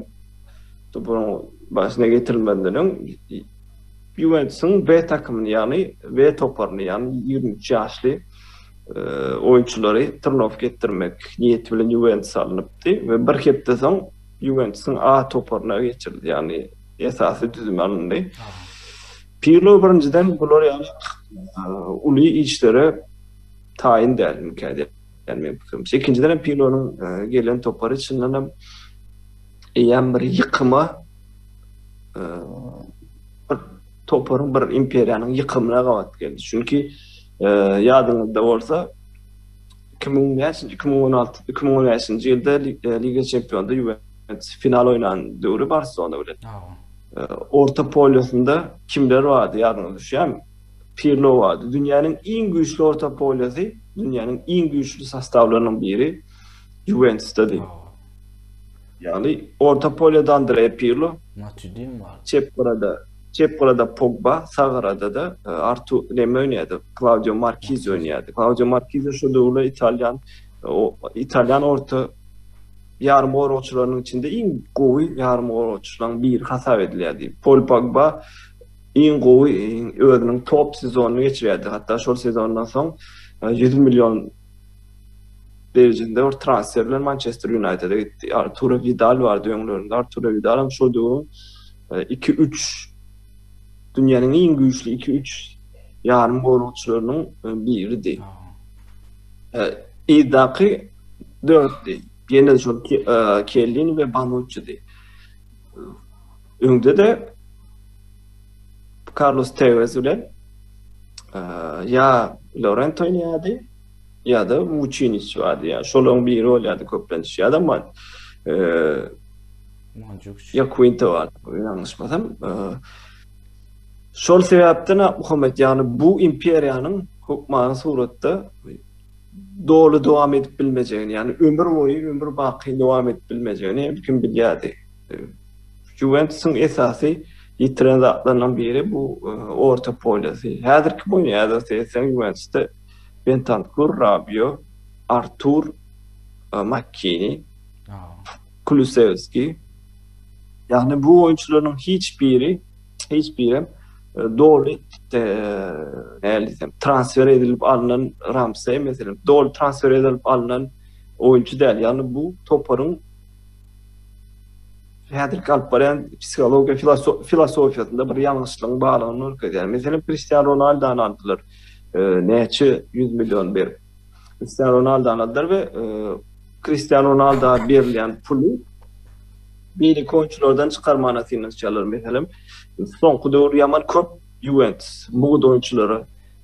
S2: toparyň başyna getirilmezinden öň Ýuwentusyň B takymyny, ýagny B toparyny, ýagny ýigrimi üç ýaşly oýunçylary trenowatka etdirmek niýeti bilen Ýuwentusa alnypdy we bir hepde soň Ýuwentusyň A toparyna geçirildi, ýagny esasy düzüme alyndy. Pirlo birinjiden bular ýaly uly işlere taýyn däl, mümkin däl meň pikirimçe. Ikinjiden hem Pirlonyň gelen topary çyndanam eýýäm bir ýykyma bir toparyň, bir imperiýanyň ýykymyna gabat geldi. Çünki e, ýadyňyzda bolsa 2005-nji, 2016, 2015-nji ýylda e, Liga Çempionda Juventus final oýnan döwri Barselona bilen. E, orta polýasynda kimler bardy ýadyňyza düşýärmi? Pirlo bardy. Dünýäniň iň güýçli orta polýasy, dünýäniň iň güýçli sostawlarynyň biri Juventusda diýip. Ýagny orta polýada Andrea Pirlo, Matuidin bar.
S1: Çep gyrada, çep
S2: gyrada Pogba, sag gyrada-da e, Artu neme oýnaýardy? Klaudio Markiz oýnaýardy. Klaudio Markiz şu döwürler italýan o italýan orta ýarym goragçylarynyň içinde iň gowy ýarym goragçylaryň biri hasap edilýärdi. Pol Pogba iň gowy özüniň top sezonyny geçirýärdi. Hatda şol sezondan soň 100 e, million Beýjinde bir transfer bilen Mançester Ýunaýtede gitdi. Arturo Widal bardy öňlerinde. Arturo Widalam şol döwüň iki-üç dünýäniň iň güýçli iki-üç ýarym goragçylarynyň biridi. Yzdaky dörtdi. Ýene şol Kellini we Banuççidi. Öňde-de Karlos Tewez bilen ýa Lorent oýnaýardy, ýa-da Wuçiniç bardy. Ýa şolaryň biri bolýardy köplenç. Ýa-da man Ýa Quinto bar, ýalňyşmasam. Şol sebäpden Muhammet, ýagny bu imperiýanyň hökmany suratda doly dowam edip bilmejegini, ýagny ömür boýy, ömür baky dowam edip bilmejegini her kim bilýärdi. Juventusyň esasy ýitiren zatlarynyň biri bu e, orta polýasy. Häzirki bunýada seýtseň Juventusda Bentankur, Rabio, Artur, e, Makkini, Kulusevski. Ýagny bu oýunçylaryň hiç biri, hiç biri hem e, doly e, nälisem transfer edilip alnan Ramsey meselem doly transfer edilip alnan oýunçy däl. Ýagny bu toparyň häzirki alyp barýan psihologiýa filosofiýasynda bir ýalňyşlygyň barlygyny görkezýär. Meselem, Kristian Ronaldany aldylar. E, näçe 100 million berip. Kristian Ronaldany aldylar we e, Kristian Ronaldo berilýän puly beýleki oýunçylardan çykarmana synanyşýarlar. Meselem, soňky döwür ýaman köp Juventus mugt oýunçylara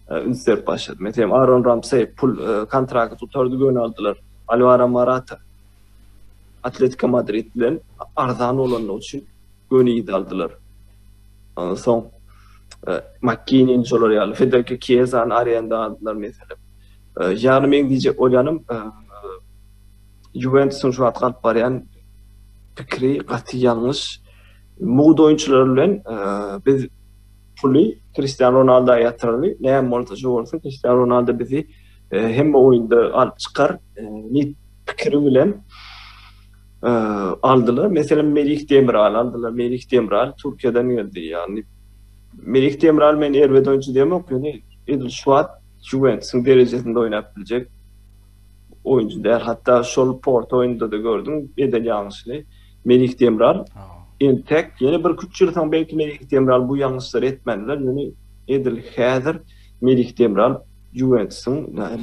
S2: e, üns berip başlady. Meselem, Aaron Ramsey pul kontrakt tutardy göni aldylar. Alvaro Morata Atletiko Madrid bilen arzan bolandygy üçin göni ýedi aldylar. Ondan soň e, Makkinin şolar ýaly Federico Chiesany arenda aldylar meselem. E, ýagny men diýjek bolýanym e, Juventusyň şu wagt alyp barýan pikiri gaty ýalňyş. Mugt oýunçylar bilen biz puly Cristiano Ronaldo ýatyraly, näme bolsa şu bolsun, Cristiano Ronaldo bizi hemme oýunda alyp çykar. pikiri bilen aldylar. Meselem, Melih Demiral aldylar. Melih Demiral Türkiýeden geldi. Ýagny Melih Demiral men erbet oýunçy diýemok, ýöne edil şu wagt Juventusyň derejesinde oýnap biljek oýunçy däl. Hatda şol Porto oýnunda-da gördüm, eden ýalňyşyny Melih Demiral entek ýene bir üç ýyl soň belki Melih Demiral bu ýalňyşlary etmändiler, ýöne edil häzir Melih Demiral Juwentusyň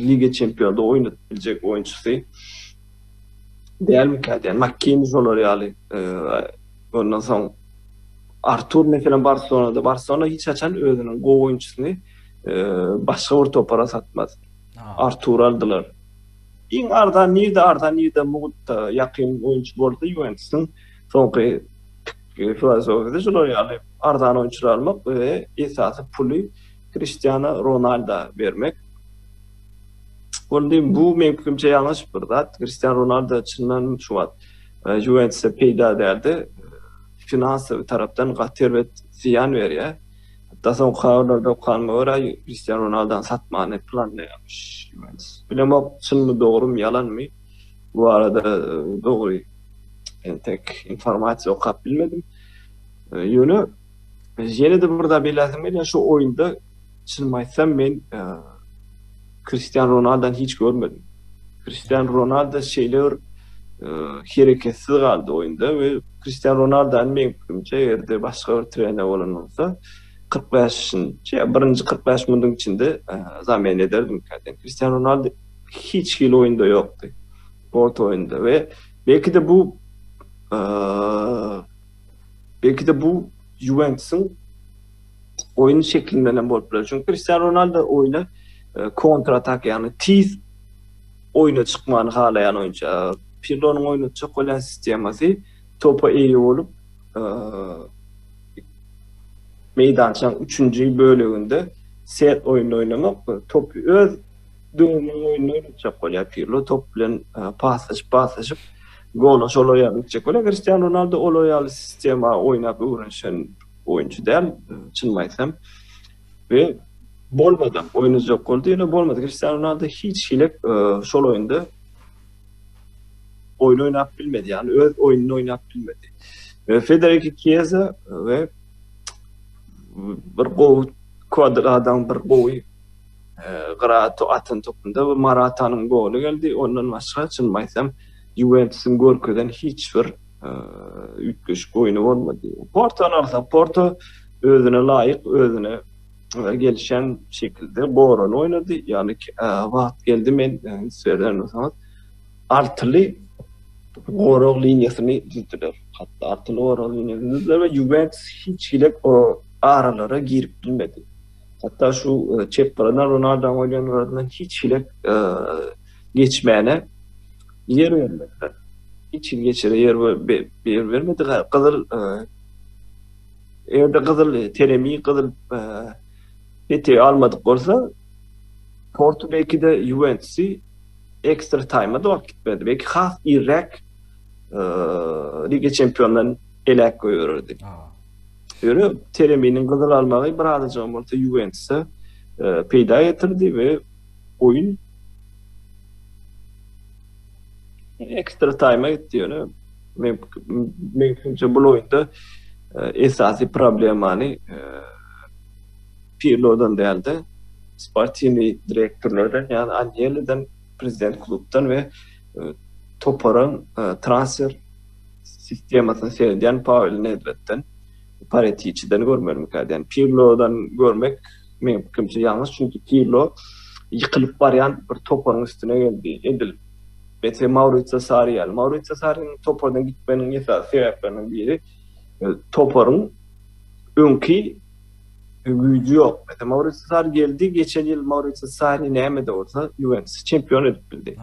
S2: Liga Çempionada oýnap biljek oýunçysy dälmikä diýýän. Makkeni şolar ýaly. Ondan soň Artur meselem Barselonada, Barselona hiç haçan özüniň gowy oýunçysyny başga bir topara satmaz. Artur aldylar. Iň arzan nirde arzan nirde mugtda ýakyn oýunçy bolsa Juwentusyň soňky filosofiýasy şolar ýaly arzan oýunçylar almak we esasy puly Kriştiana Ronalda bermek. Boldy, bu men pikrimçe ýalňyş bir zat. Kristian Ronaldo çyndan şu wagt e, Juventusa peýda däldi. Finansawy tarapdan gaty erbet zyýan berýär. Hatda soň habarlarda okanyma görä, Kristian Ronaldo satmany planlaýarmyş Juventus. Bilemok, çynmy, dogrumy, ýalanmy? Bu barada e, dogry entek informasiýa okap bilmedim. E, ýöne Ýene-de bir zat belläsem gelýär, şu oýunda çynymy aýtsam men e, Kristian Ronaldan hiç görmedim. Kristian Ronaldo şeýle bir e, hereketsiz galdy oýunda we Kristian Ronaldan men pikrimçe ýerde başga bir trener bolan bolsa 45-nji ýa birinji 45 minutiň içinde e, zamen ederdim käten. Kristian Ronaldo hiç hili oýunda ýokdy. Port oýunda we belki de bu e, Belki-de bu Juwentusyň oýun şeklinden hem bolup biler. Çünki Kristiano Ronaldo oýna e, kontratak, ýagny tiz oýna çykmany halaýan oýunçy. Pirlonyň oýnatjak bolýan sistemasy topa eýe bolup, e, meýdançaň üçünji böleginde set oýnuny oýnamak, top öz döwrüniň oýnuny oýnatjak bolýar Pirlo, top bilen e, paslaşyp, paslaşyp, Gola şol aýal gitjek bolar. Kristian Ronaldo ol aýal sistema oýnap öwrenişen oýunçy däl, çynymy aýtsam. Ve bolmady. Oyunu yok oldu. Yine bolmadı. Cristiano Ronaldo hiç hile e, şol oyunda oyun oynap bilmedi. Yani öz oyununu oynap bilmedi. E, Federico Chiesa ve bir gowy kwadr adam bir gowy Gyrat atan topunda we Maratanyň goly geldi. Ondan başga çyn aýtsam, Ýuwentusyň görkezen hiç bir üýtgeşik oýny bolmady. Portony alsak, Porto özüne laýyk, özüne gelişen şekilde gorany oýnady. Ýagny wagt geldi men seredeniň altyly gorag liniýasyny düzdüler. Hatda altyly gorag liniýasyny düzdüler we Ýuwentus hiç hili aralara girip bilmedi. Hatda şu çep gyryna Ronaldo goýan gyradan hiç hili geçmäne ýer bermediler. Hiç hili geçere ýer bermedi. Gyzyl eger-de gyzyl teremi, gyzyl peti almadyk bolsa, Porto belki-de Juwentusi ekstra taýma-da wagt gitmezdi. Belki has irräk Liga Çempionlarynyň elek goýbererdi. Ýöne Tereminiň gyzyl almagy bir azajygam bolsa Ýuwentusa e, peýda getirdi we oýun ekstra taýma gitdi ýöne men menimçe bu oýunda e, esasy problemany e, Pirlodan däldi. Sportini direktorlardan, ýa Angeliden, prezident klubdan we e, toparyň transfer sistemasyny seredýän Pawel Nedwedden, Paretiçiden görmelimikä diýýän. Pirlodan görmek meniň pikirimçe ýalňyş, çünki Pirlo ýykylyp barýan bir toparyň üstüne geldi. Edil Bete Maurizio Sarri ýaly. Maurizio Sarriniň topardan gitmeginiň esasy sebäpleriniň biri e, toparyň öňki güýji ýok. Bete Maurizio Sarri geldi, geçen ýyl Maurizio Sarri näme-de bolsa Juventus çempion edip bildi.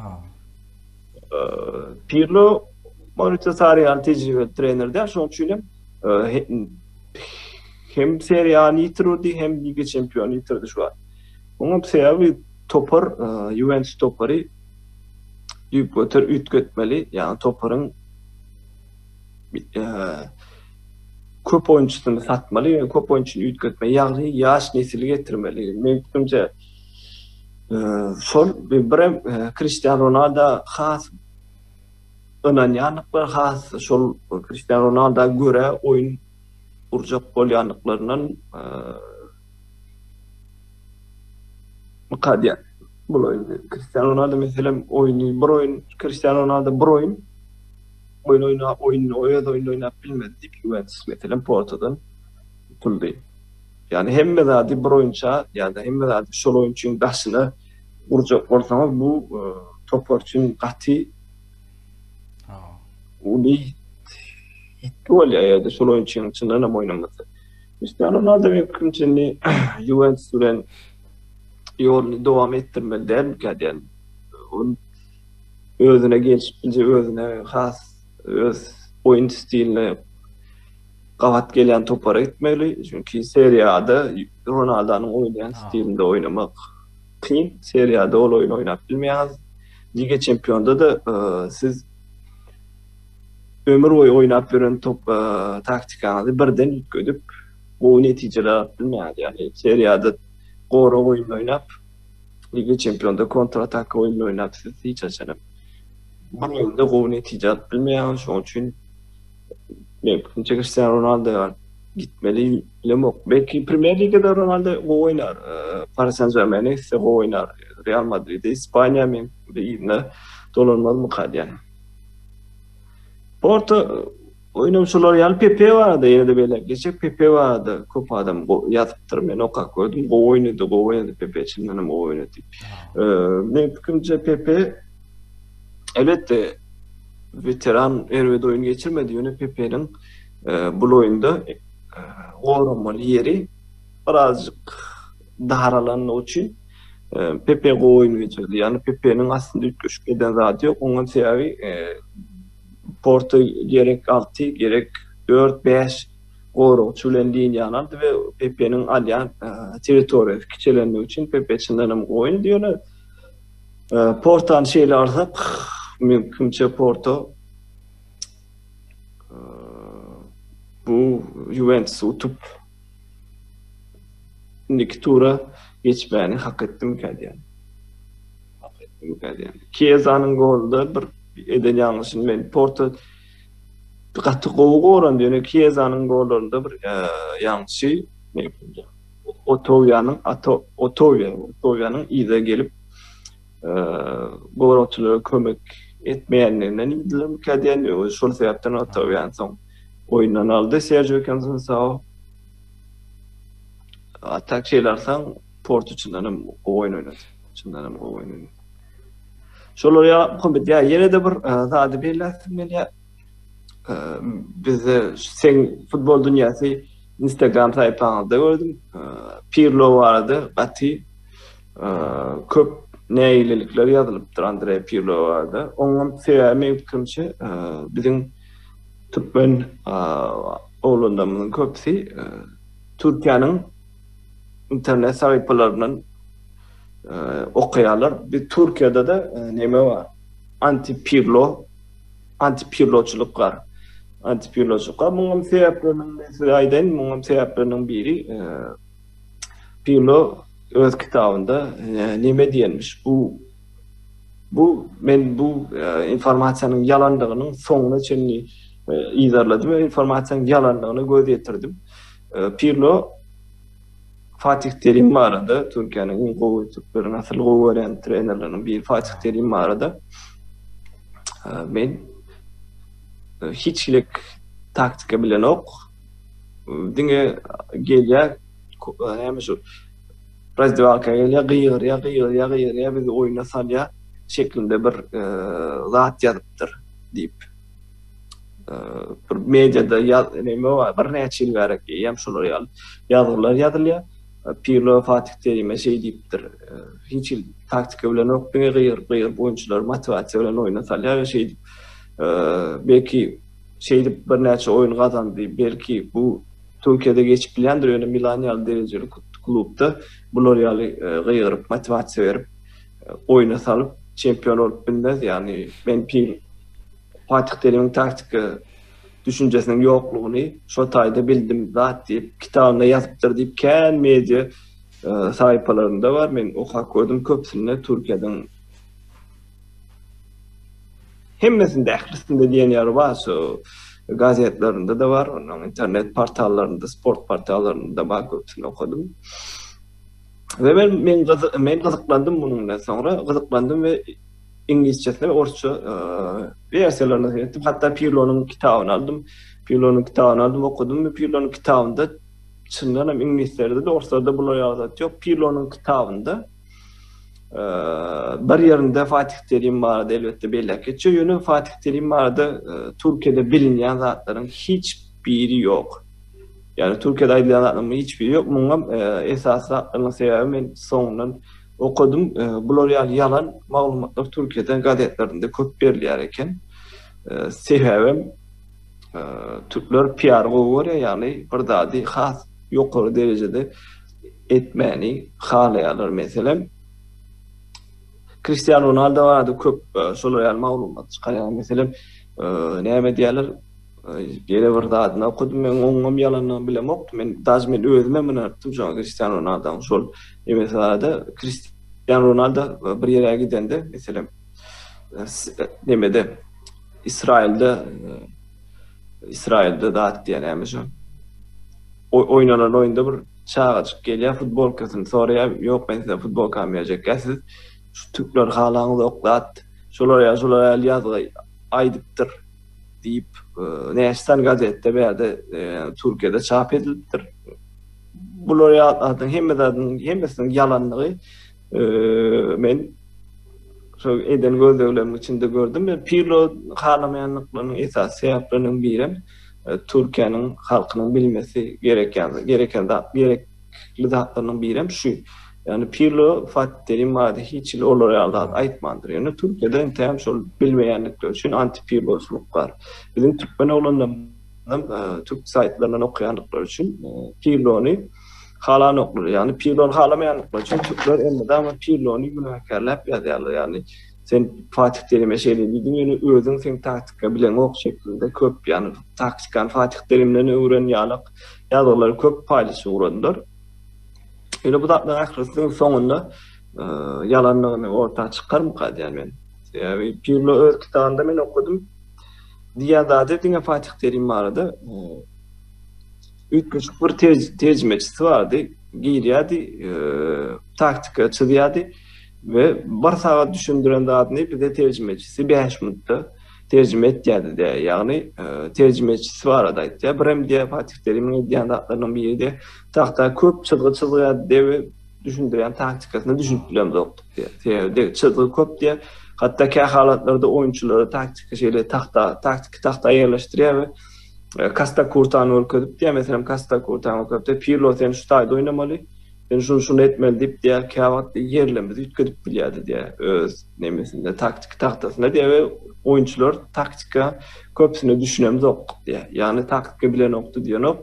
S2: Pirlo Maurizio Sarri ýaly tejribeli trener däl, şonuň üçin hem hem seriýany ýitirdi, hem Liga çempiony ýitirdi şu wagt. Muňa sebäbi topar Juventus topary düýp göter üýtgetmeli, ýa toparyň köp oýunçysyny satmaly, köp oýunçyny üýtgetmeli, ýagny ýaş nesil getirmeli. Meňkimje Şol birem Kristian Ronaldo has ynanýanlyklar has şol Kristian Ronaldo göre oýun gurjak bolýanlyklaryndan mukadýa. Bu oýun Kristian Ronaldo meselem oýny bir oýun Kristian Ronaldo bir oýun oýun oýnap oýnuny öz oýnuny oýnap bilmedi diýip Juventus meselem Portodan tutuldy. Ýagny hemme zady bir oýunça, ýa-da hemme zady şol oýunçyň daşyna gurjak bolsaňyz, bu e, topar üçin gaty uly ýitgi bolýar ýa-da şol oýunçyň çyndan hem oýnamasa. Cristiano Ronaldo men pikrimçe indi Juventus bilen ýoluny dowam etdirmeli dälmikä diýen. Ol özüne gelşip bilje, özüne has öz oýun stiline gabat gelýän topara gitmeli. Çünki Serie A-da Ronaldonyň oýnaýan stilinde oýnamak kyn. Serie A-da ol oýun oýnap bilmeýäňiz. Liga Çempionda-da e, siz ömür boýy oýnap ýören top e, taktikaňyzy birden üýtgedip, gowy netijeler alyp bilmeýäňiz. Ýagny Serie A-da gora oýun oýnap, Liga Çempionda kontratak oýun oýnap siz hiç haçan hem bir oýunda gowy netije alyp bilmeýäňiz. Şonuň üçin Men fikrimçe Kristiano Ronaldo gitmeli bilemok. Belki Premier Ligada Ronaldo gowy oýnar. Paris Saint-Germaine ise gowy oýnar. Real Madrid, Ispaniýa men birine dolanmazmyka diýýän. Orta oýnam şolar ýaly Pepe barada ýerde bele geçip Pepe barada köp adam ýazypdyr. Men okap gördüm. Gowy oýnady, gowy oýnady Pepe çyndanam gowy oýnady. Men fikrimçe Pepe Elbetde, weteran erbet oýun geçirmedi, ýöne Pepeniň bul oýunda goramaly ýeri birazjyk daralandygy üçin Pepe gowy oýun geçirdi. Ýagny Pepeniň aslynda üýtgeşik eden zady ýok. Oňa sebäbi Porto gerek alty, gerek dört, bäş goragçy bilen liniýany aldy we Pepeniň alýan territoriýasy kiçelendigi üçin Pepe çyndanam gowy oýun. Portany şeýle alsak, mümkinçe Porto bu Juventus utup indiki tura geçmäni hak etdim kädýän. Hak etdim kädýän. Kiezanyň golda bir eden ýalňyşyny men Porto gaty gowy goran, ýöne Kiezanyň gollarynda bir ýalňyşy Otowiýanyň ata Otowiýa, Otowiýanyň yza gelip, goragçylara kömek etmeýänliginden ýüzlenmekkä diýen, özi şol sebäpden Otowiýany soň oýundan aldy Serjio Konsensao. A tak şeýle alsaň, Portu çyndan hem gowy oýun oýnady. Çyndan hem gowy oýun oýnady. Şolar ýa, Muhammet, ýa ýene-de bir zady belläsiň gelýär? Bizde sen futbol dünýäsi Instagram saýpaňyzda gördüm. Pirlo barada gaty köp nägilelikler ýazylypdyr Andre Pirlo barada. Oňam sebäbi meň pikirimçe biziň türkmen oglanlarymyzyň köpüsi Türkiýäniň internet saýpalaryndan okaýarlar. Biz Türkiýede-de näme bar? Anti Pirlo Antipýurloçylyk bar. Antipýurloçylyk bar. Muňam sebäpleriniň size aýdaýyn, muňam sebäpleriniň biri e, Pirlo öz kitabynda e, näme diýenmiş? Bu bu men bu e, informasiýanyň ýalandygynyň soňuna çenli yzarladym we informasiýanyň ýalandygyna göz ýetirdim. Pirlo Fatih Terim barada Türkiýäniň iň gowy türkleriň asyl gowy görýän trenerleriniň biri Fatih Terim barada men hiç hilik taktika bilenok. Diňe gelýär näme şu razdewalka gelýär gygyrýar gygyrýar gygyrýar bizi oýuna salýar şeklinde bir zat ýazypdyr diýip. bir mediada näme bar, bir näçe ýyl bärik hem şolar ýaly ýazgylar ýazylýar. Pirlo Fatih Terime şeý diýipdir, hiç hil taktika bilen ok diňe gyýr, gyýr oýunçylary motowasiýa bilen oýna salýar we şeý diýip, belki şeý diýip birnäçe oýun gazandy, belki bu Türkiýede geçip bilýändir, ýöne Milan ýaly derejeli klubda bular ýaly gygyryp, motowasiýa berip, oýuna salyp çempion bolup bilmez. Ýagny men pil Fatih Terimiň taktika düşünjesiniň ýoklugyny şo taýda bildim zat diýip kitabynda ýazypdyr diýip kän media saýpalarynda bar. Men okap gördüm köpsünde Türkiýeden hemmesinde ählisinde diýen ýaly bar şu gazetlerinde de bar, onuň internet portallarynda, sport portallarynda bar köpsünde okadym. We men men men gyzyklandym munuň bilen soňra gyzyklandym we iňlisçesine we orsça versiýalaryna seretdim. Hatda Pirlonyň kitabyny aldym. Pirlonyň kitabyny aldym, okudym we Pirlonyň kitabynda çyndan hem iňlislerde de orslerde bular ýaly zat ýok. Pirlonyň kitabynda bir ýerinde Fatih Terim barada elbetde belläp geçýär. Ýöne Fatih Terim barada Türkiýede bilinýän zatlaryň hiç biri ýok. Yani Türkiýede aýdylýan zatlaryň hiç biri ýok. Muňa esasy zatlaryň sebäbi men soňundan okadym. Bular ýaly ýalan maglumatlar Türkiýede gazetlerinde köp berilýär eken. Sebäbem türkler PR gowy görýär, ýagny bir zady has ýokary derejede etmäni halaýarlar. Meselem, Kristiano Ronaldo barada köp şolar ýaly maglumat çykarýar. Meselem, näme diýerler? Ýene bir zadyny okadym. Men oňňam ýalanam bilemokdym. Men daş men özümem ynanypdym şoňa Kristiano Ronaldoň şol MSA-da Kristiano Ronaldo bir ýere gidende, meselem, nemede Israilde Israilde zat diýýär näme şo? Oýnanan oýunda bir çagajyk gelýär, futbolkasyny soraýar, ýok men size futbolkamy berjek, ýa siz şu türkler halaňyzok zat, şolar ýa şolar ýaly ýazgy aýdypdyr. Diýip, näçe sany gazetde bärde Türkiýede çap edilipdir. Bular ýatladyň hemme zadyň hemmesiniň ýalanlygy men şol eden gözleglerimiň içinde gördüm. Men Pirlo halamaýanlyklarynyň esasy sebäpleriniň biri Türkiýäniň halkynyň bilmesi gereken gereken zat gerek Ähli zatlarynyň birem şu. Ýagny Pirlo, Fatih Terim barada hiç hili olar ýaly zat aýtmandyr. Ýöne Türkiýede entägem şol bilmeýändikleri üçin antipirloçylyk bar. Biziň türkmen oglanlarymyzam türk saýtlaryndan okaýandyklary üçin Pirlony halanoklar. Ýagny Pirlony halamaýandyklary üçin türkler elmydama Pirlony günäkärläp ýazýarlar. Ýagny sen Fatih Terime şeýle diýdiň, ýöne özüň sen taktika bileňok şeklinde köp, ýagny taktikany Fatih Terimden öwren ýalyk ýazgylary köp paýlaşyp ugradylar. Ýöne bu zatlaryň ählisiniň soňunda e, ýalanlygyny orta çykarmyka diýen men. Sebäbi Pirlo öz kitabynda men okudym. Diýen zady diňe Fatih Terim barada e, üýtgeşik bir terjimeçisi bardy. Girýärdi, e, taktika çyzýardy. We bir sagat düşündiren zadyny bize terjimeçisi bäş minutda terjime etýärdi diýýär. Ýagny terjimeçisi barada aýtýar. Birem diýýär Fatih Terimiň edýän zatlarynyň biri de tagta köp çyzgy çyzýardy diýýär we düşündirýän taktikasyna düşünip bilemzokdyk diýýär. Sebäbi çyzgy köp diýýär. Hatda kä halatlarda oýunçylara taktika şeýle tagta, taktiki tagta ýerleşdirýär we Kasta Kurtany görkezip diýýär. Meselem Kasta Kurtany görkezipdir. Pirlo sen şu taýda oýnamaly. Sen şuny şuny etmeli diýip diýýär, käwagt diýýär ýerlemez üýtgedip bilýärdi diýýär öz nemesinde, taktiki tahtasynda diýýär we oýunçylar taktika köpüsine düşünemzokdyk diýýär. Ýagny taktika bilenokdy diýenok,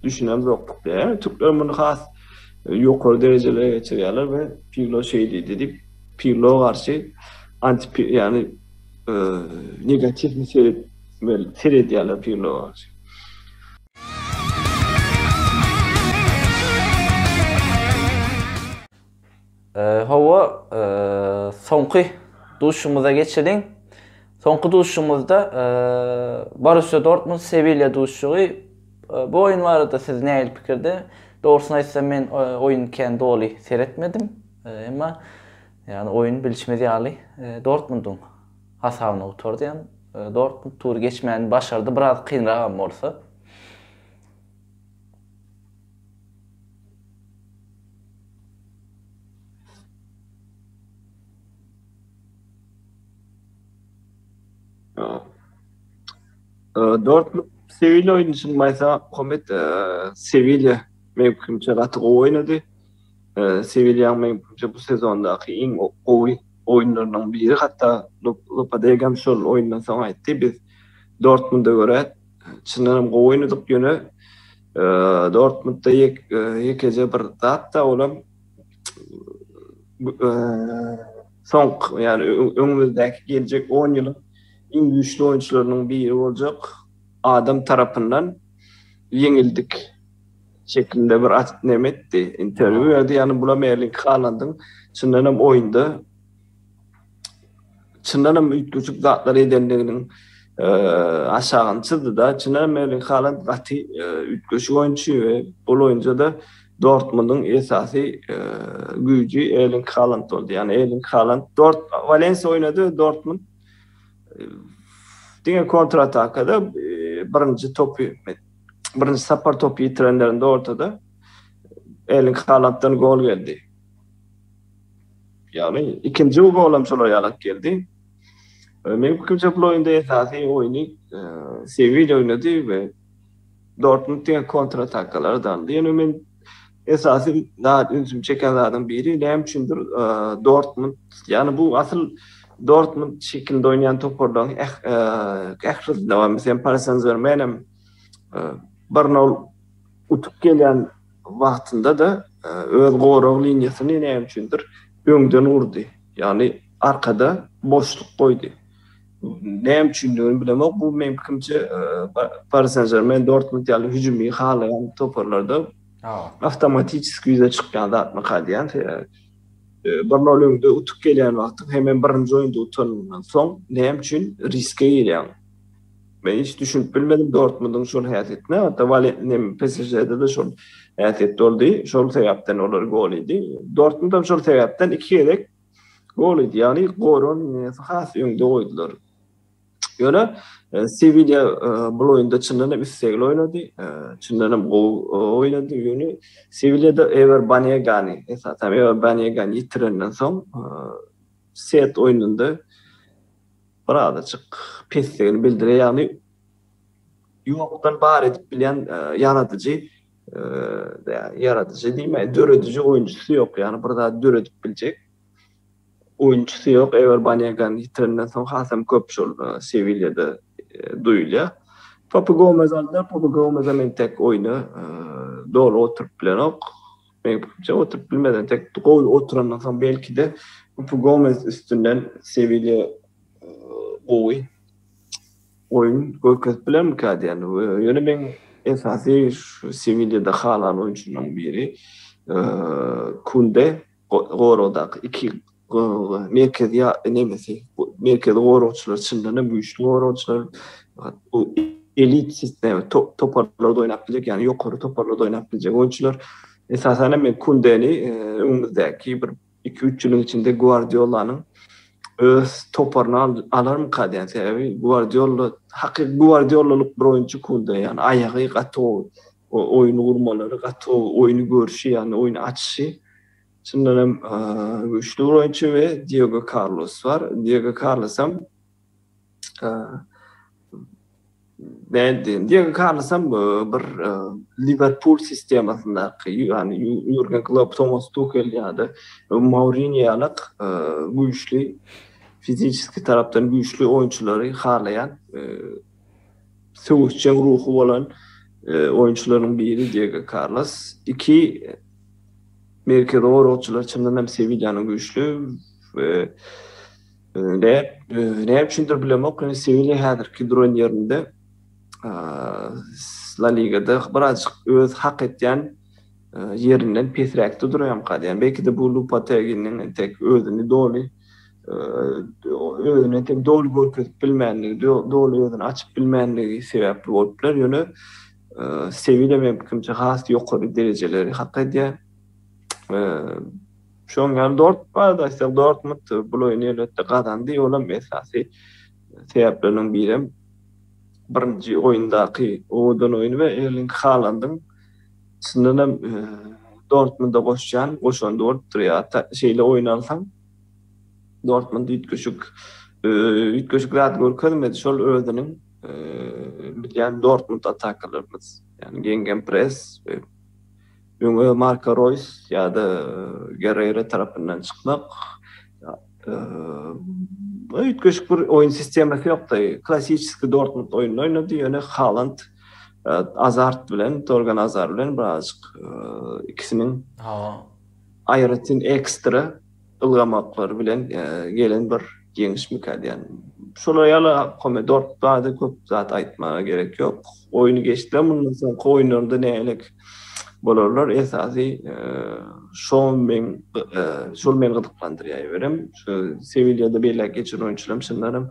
S2: düşünemzokdyk diýýär. Ýagny türkler muny has ýokary derejelere geçirýärler we Pirlo şeý diýdi diýip Pirlo garşy anti ýagny negatiw seredýärler Pirlo garşy.
S1: Hawa, soňky duşumyza geçeliň. Soňky duşumyzda Borussiýa Dortmund Sewilýa duşugy. Bu oýun barada siz nähili pikirde? Dogrusyny aýtsam men oýuny kän doly seretmedim. Emma ýagny oýun bilşimiz ýaly Dortmundyň hasabyna gutardy ýa Dortmund tury geçmäni başardy biraz kynragam bolsa.
S2: Dortmund Sewilýa oýny çyn maýsa Komet Sewilýa mümkinçe gaty gowy oýnady. Sewilýanyň meňpikrimçe bu sezondaky iň gowy oýunlarynyň biri, hatda Lopedegam şol oýundan soň aýtdy, Biz Dortmunda görä çyndan hem gowy oýnadyk, ýöne Dortmundda ýekeje bir zat-da, olam soňky, ýagny öňümizdäki geljek on ýylyň iň güýçli oýunçylarynyň biri boljak adam tarapyndan ýeňildik. Şeklinde bir atyp neme etdi. Intervýu berdi. Ýani bula Merlin Halandyň çyndan hem oýunda çyndan hem üýtgeşik zatlar edendiginiň aşagyny çyzdy-da. Çyndan hem Merlin Haland gaty üýtgeşik oýunçy we bu oýunjada Dortmundyň esasy güýji Erling Haland boldy. Ýani Erling Haland Dort Walensiýa oýnady, Dortmund diňe kontratakada birinji topy birinji sapar topy ýitirenlerinde ortada Erling Haalanddan gol geldi. Ýagny ikinji gol hem şolar ýalak geldi. E, Meniň pikrimçe bu oýunda esasy oýny e, Sevilýa oýnady we Dortmund diýen kontratakalary daldy. Ýöne men Esasy zat ünsümi çeken zadyň biri näme üçindir Dortmund. Ýagny bu asyl Dortmund şekilinde oýnaýan toparlaryň eh, eh, ählisinde bar. Meselem Paris Saint-Germain hem eh, bir nol utup gelýän wagtynda-da öz gorag liniýasyny näme üçindir öňden gurdy. Ýagny arkada boşluk goýdy. näme üçindigini bilemok. Bu meň pikrimçe Paris Saint-Germain, Dortmund ýaly hüjümi halaýan toparlarda awtomatiki ýüze çykýan zatmy diýýän. Bir nol öňde utup gelýän wagtyň hem hem birinji oýunda utanandan soň näme üçin riske girýän? Men hiç düşünip bilmedim Dortmundyň şol häsiýetine. Hatda Waletnem PSŽ-de de şol häsiýet boldy. Şol sebäpden olar gol ýedi. Dortmund hem şol sebäpden iki gezek Gol idi. Ýagny goran ýeňesi has öňde goýdular. Ýöne Sewilýa bu oýunda çyndan hem islegli oýnady. Çyndan hem gowy oýnady. Ýöne Sewilýada Ewer Banegany, esasan Ewer Banegany ýitirenden soň set oýnunda bir azajyk pesdigini bildirýär. Ýagny ýokdan bar edip bilýän ýaradyjy ýaradyjy diýmeýin, dörediji oýunçysy ýok. Ýagny bir zat döredip biljek oýunçysy ýok. Ewer Banýagan ýitirenden soň hasam köp şol Sewilýada duýulýar. Papu Gomez aldy, Papu Gomez hem entek oýna doly oturyp bilenok. Meň pikirimçe oturyp bilmedi. Entek gowy oturandan soň belki-de Papu Gomez üstünden Sewilýa gowy oýun görkezip bilermikä diýen. Ýöne meň esasy şu Sewilýada halan oýunçymyň biri Kunde goragdaky iki merkezi nemesi merkezi goragçylar çyndan hem güýçli goragçylar elit sistema toparlarda oýnap biljek ýagny ýokary toparlarda oýnap biljek oýunçylar esasan hem men Kundeni öňümizdäki bir Iki-üç ýylyň içinde Gwardiolanyň öz toparyny alarmyka diýen. Sebäbi Gwardiolda hakyky Gwardiolalyk bir oýunçy Kunde. Ýagny aýagy gaty gowy. Oýun gurmalary gaty gowy. Oýny görşi ýagny oýny açyşy çyndan hem güýçli bir oýunçy we Diego Karlos bar. Diego Karlosam Beýdýän diýen kalasam bir Liwerpul sistemasyndaky, ýagny Ýurgen Klopp, Tomas Tukel ýa-da Mourinýo ýaly güýçli, fiziki tarapdan güýçli oýunçylary halaýan, söweşjeň ruhy bolan oýunçylaryň biri Diego Karlos. Iki merkezi goragçylar çyndanam Sewilýanyň güýçli we Näme üçindir bilemok, ýöne Sewilýa häzirki duran ýerinde La Ligada birazajyk öz hak etýän ýerinden pesräkde durýamyka diýýän. Belki-de bu Lupateginiň entek özüni doly özüni entek doly görkezip bilmänligi, doly özüni açyp bilmänligi sebäpli bolup biler. Ýöne Sewilýa meň pikirimçe has ýokary derejeleri hak edýär. Şoň ýaly Dortmund barada aýtsak, Dortmund bul oýny elbetde gazandy, ol hem esasy sebäpleriniň biri hem birinji oýundaky owadan oýny we Erling Halandyň çyndan hem e, Dortmunda goşýan goşandy bolupdyr. Ýa şeýle oýun alsaň, Dortmund üýtgeşik e, üýtgeşik zat görkezmedi. Şol özüniň e, bilýän Dortmund atakalarymyz, ýagny geňgen pres we Öňe Marko Roýs ýa-da Gerreýra tarapyndan çykmak, üýtgeşik bir oýun sistemasy ýokdy. Klassiçeskiý Dortmund oýnuny oýnady, ýöne Haland Azard bilen, Torgan Azar bilen birazajyk ikisiniň aýratyn ekstra Ylgamaklary bilen gelen bir ýeňişmikä diýýän. Şolar ýaly pomidor bady köp zat aýtmaga gerek ýok. Oýny geçdiler, mundan soňky oýunlarynda nähelelik bolarlar esasy şo meň şol meni gyzyklandyrýar eýberem. Şu Sewilýada beýläk geçiren oýunçylarym çyndanam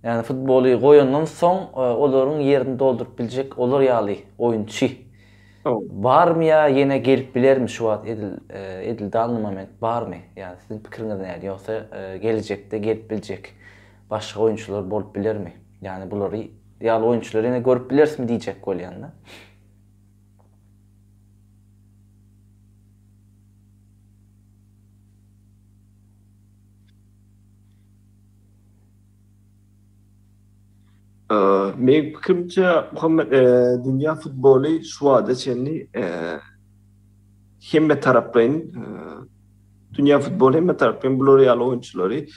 S1: Ýagny futboly goýandan soň olaryň ýerini dolduryp biljek olar ýaly oýunçy barmy ýa ýene gelip bilermi şu wagt edil edil danny moment barmy? Ýagny siziň pikiriňiz nädip ýogsa gelejekde gelip biljek başga oýunçylar bolup bilermi? Ýagny bulary ýaly oýunçylary ýene görüp bilerismi diýjek bolýan-da. Meniň pikirimçe, Muhammet, dünýä futboly şu wagta çenli hemmetaraplaýyn, dünýä futboly hemmetaraplaýyn bular ýaly oýunçylary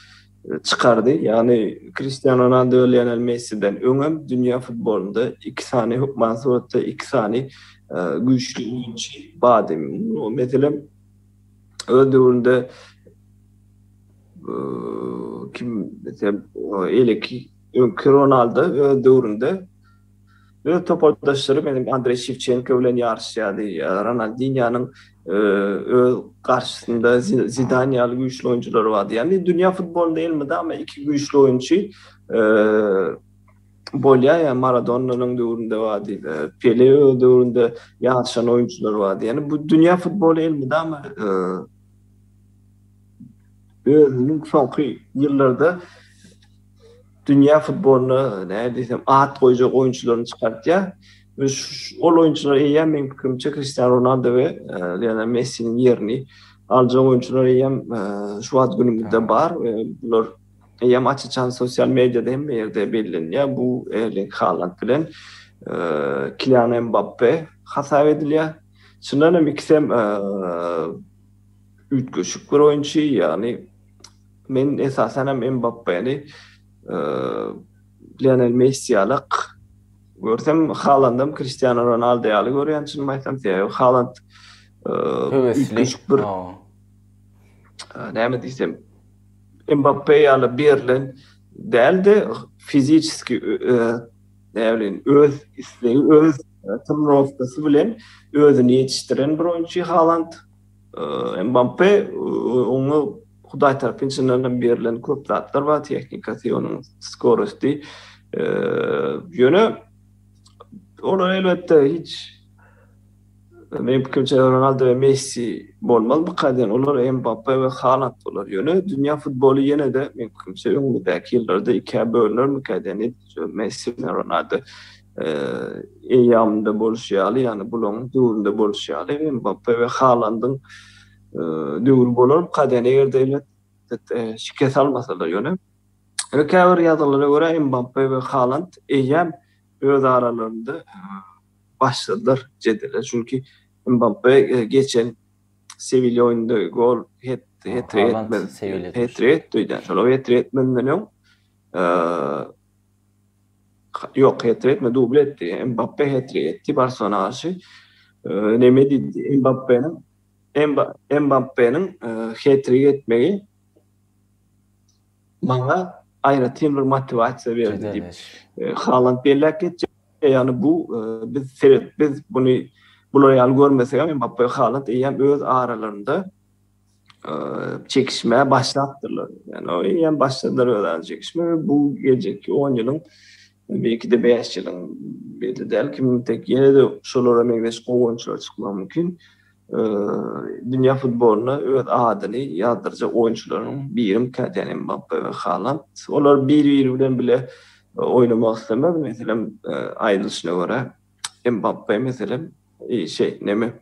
S1: çykardy. Ýagny Kristiano Ronaldo we Lionel Messiden öňem dünýä futbolynda iki sany, hökman suratda iki sany güýçli oýunçy bardy. Meselem, öz döwründe kim desem, eleki öňki Ronaldo öz döwründe öz topardaşlary meniň Andreý Şewçenko bilen ýaryşýardy. Ronaldinýonyň öz garşysynda Zidan ýaly güýçli oýunçylary bardy. Ýagny dünýä futbolynda elmydama iki güýçli oýunçy bolýar ýa Maradonnanyň döwründe bar diýdi. Pele öz döwründe ýaşan oýunçylar bar diýdi. Ýani bu dünýä futboly elmydama özüniň soňky ýyllarda dünýä futbolyna näme diýsem at goýjak oýunçylaryny çykartýar. We ol oýunçylar eýýäm meň pikirimçe Kristiano Ronaldo we Lionel Messiniň ýerini aljak oýunçylar eýýäm şu wagt günümizde bar we bular eýýäm aç-açan sosial mediada hemme ýerde bellenilýär, bu Erling Haland bilen Kilian Mbappe hasap edilýär. Çyndan hem ikisem üýtgeşik bir oýunçy, ýagny men esasan hem Mbappeni Lionel Messi ýaly görsem, Halandam Kristiano Ronaldo ýaly görýän çynymy aýtsam, sebäbi Haland üýtgeşik bir näme diýsem, Mbappe ýaly berlen däl-de, fiziçeski, näme bileýin, öz islegi, öz trenirowkasy bilen özüni ýetişdiren bir oýunçy Haland. Mbappe oňa Hudaý tarapynçyndan hem berlen köp zatlar bar, tehnikasy, onuň skorosti. Ýöne olar elbetde hiç. Meniň pikirimçe Ronaldo we Messi bolmaz bu kaýdan olar Mbappe we Haland bolar ýöne dünýä futboly ýenede meniň pikirimçe öňümizdäki ýyllarda ikä bölünermikä diýen edil şu Messi bilen Ronaldo eýýamynda boluşy ýaly ýagny bulaň döwründe boluşy ýaly Mbappe we Halandyň döwri bolar bu kaýdan eger-de elbet şikes almasalar ýöne ýöne käbir ýazgylara görä Mbappe we Haland eýýäm öz
S2: aralarynda başladylar jedele. Çünki Mbappe geçen Sewilýa oýnunda gol het-trik etdi.
S1: Şol
S2: het-trik etmezden öň Ýok, het-trik etmedi, dubl etdi. Mbappe het-trik etdi Barselona garşy. Neme diýdi? Mbappeniň Mbappeniň het-trik etmegi maňa aýratyn bir motiwasiýa berdi diýip, Haland belläp geçýär. Ýagny bu biz seret biz buny bular ýaly görmesegem Mbappe Haland eýýäm öz aralarynda çekişmä başlapdyrlar. Ýagny eýýäm başladylar öz ara çekişmä we bu geljekki on ýylyň belki-de bäş ýylyň belli däl kim tek ýene-de şolara meňzeş gowy oýunçylar çykmagy mümkin. Dünýä futbolyna öz adyny ýazdyrjak oýunçylaryň birim Kylian Mbappe we Haland. Olar bir-biri bilen bile oýnamak islemez. Meselem, aýdylyşyna görä, Mbappe, meselem, şeý, neme,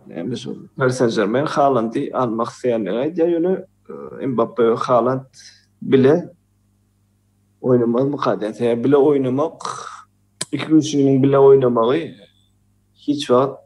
S2: näme şol, Pari Sen-Žermen Halandy almak isleýändigini aýdýar, ýöne Mbappe we Haland bile oýnamazmyka diýýän. Sebäbi bile oýnamak, iki kişiniň bile oýnamagy hiç wagt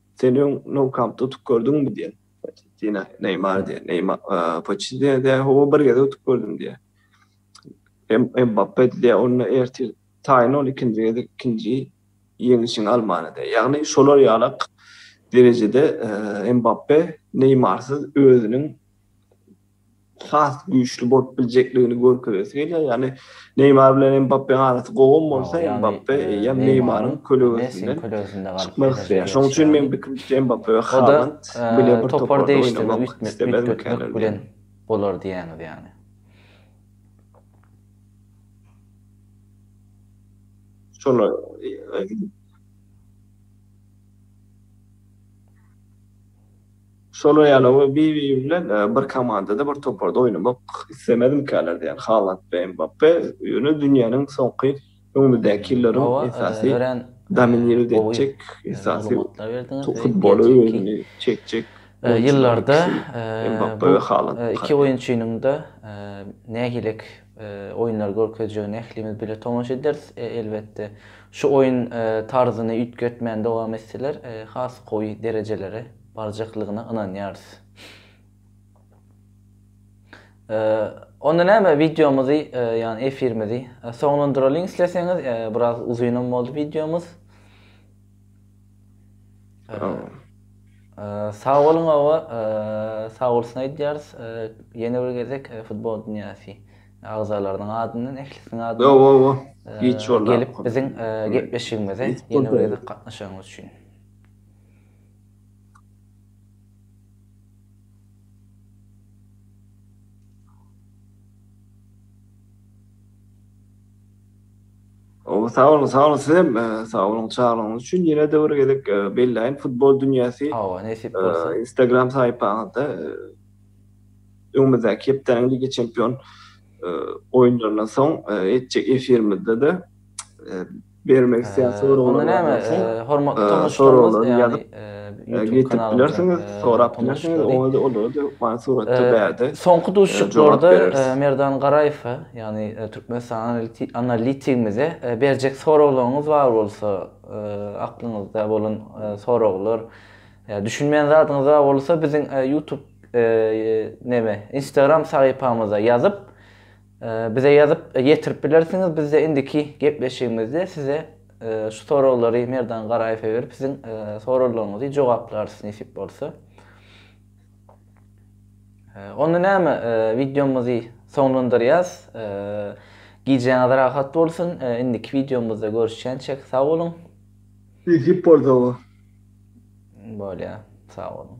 S2: Sen öň Nou Kampda utup gördüňmi diýen. Poçettino, Neýmar diýen. Neýmar, Poçettino diýen, hawa bir gezek utup gördüm diýen. Mbappe diýen, onda ertir taýyn ol ikinji gezek ikinji ýeňişiň almany diýen. Ýagny şolar ýaly derejede Mbappe Neýmarsyz özüniň has güýçli bolup biljekligini görkezesi gelýär. Ýagny Neýmar bilen Mbappeň arasy gowam bolsa, Mbappe eýýäm Neýmaryň kölegesinden çykmak isleýär. Şonuň üçin meň pikirimçe Mbappe we Haland bile bir toparda oýnamak islemez öýtmek bilen
S1: bolar diýýäňiz ýagny.
S2: Şolar Şolar ýaly oňa bir-biri bilen bir komandada, bir toparda oýnamak islemezmikäler diýýän Haland we Mbappe. Ýöne dünýäniň soňky öňümizdäki ýyllaryň esasy dominirowt etjek, esasy futbola özüni çekjek oýunçylaryň
S1: ikisi Mbappe
S2: we Haland.
S1: Oýunlary görkezjegine ählimiz bile tomaşa ederis, elbetde. Şu oýun tarzyny üýtgetmän dowam etseler, has gowy derejelere barjaklygyna ynanýarys. Onda näme, wideomyzy, ýagny efirimizi soňlandyralyň isleseňiz, biraz uzynam boldy wideomyz. Sag boluň oba, sag bolsun aýdýarys ýene bir gezek Futbol dünýäsi agzalarynyň adyndan, ählisiniň adyndan
S2: gelip biziň
S1: gepleşigimize ýene bir gezek gatnaşanyňyz üçin.
S2: Ow sag boluň sag boluň sizem sag boluň çaglygyňyz üçin ýenede bir gezek belläýin futbol dünýäsi hawa nesip bolsa
S1: instagram saýpaňyzda
S2: öňümizdäki hepdäniň lige çempion oýunlaryndan soň etjek efirimizde-de bermek isleýän soraglaryňyzy hormatly
S1: tomaşaçylarymyz ýazyp ýetip bilersiňiz
S2: sorap bilersiňiz oňa-da olary-da suratda bärde soňky duşuşyklarda
S1: Merdan Garaýew Ýagny Türkmenistan analitigimize berjek soraglaryňyz bar bolsa, aklyňyzda bolan soraglar, düşünmeýän zadyňyz bar bolsa biziň YouTube neme Instagram sahypamyza ýazyp bize ýazyp ýetirip bilersiňiz bizde indiki gepleşigimizde size şu soraglary Merdan Garaýewe berip siziň soraglaryňyzy jogaplarys nesip bolsa. Onda näme, wideomyzy soňlandyrýas. Gijäňiz rahat bolsun. Indiki wideomyzda görüşýänçäk, sag boluň. Düzüp bolsa
S2: bu.
S1: Bolýar, sag boluň.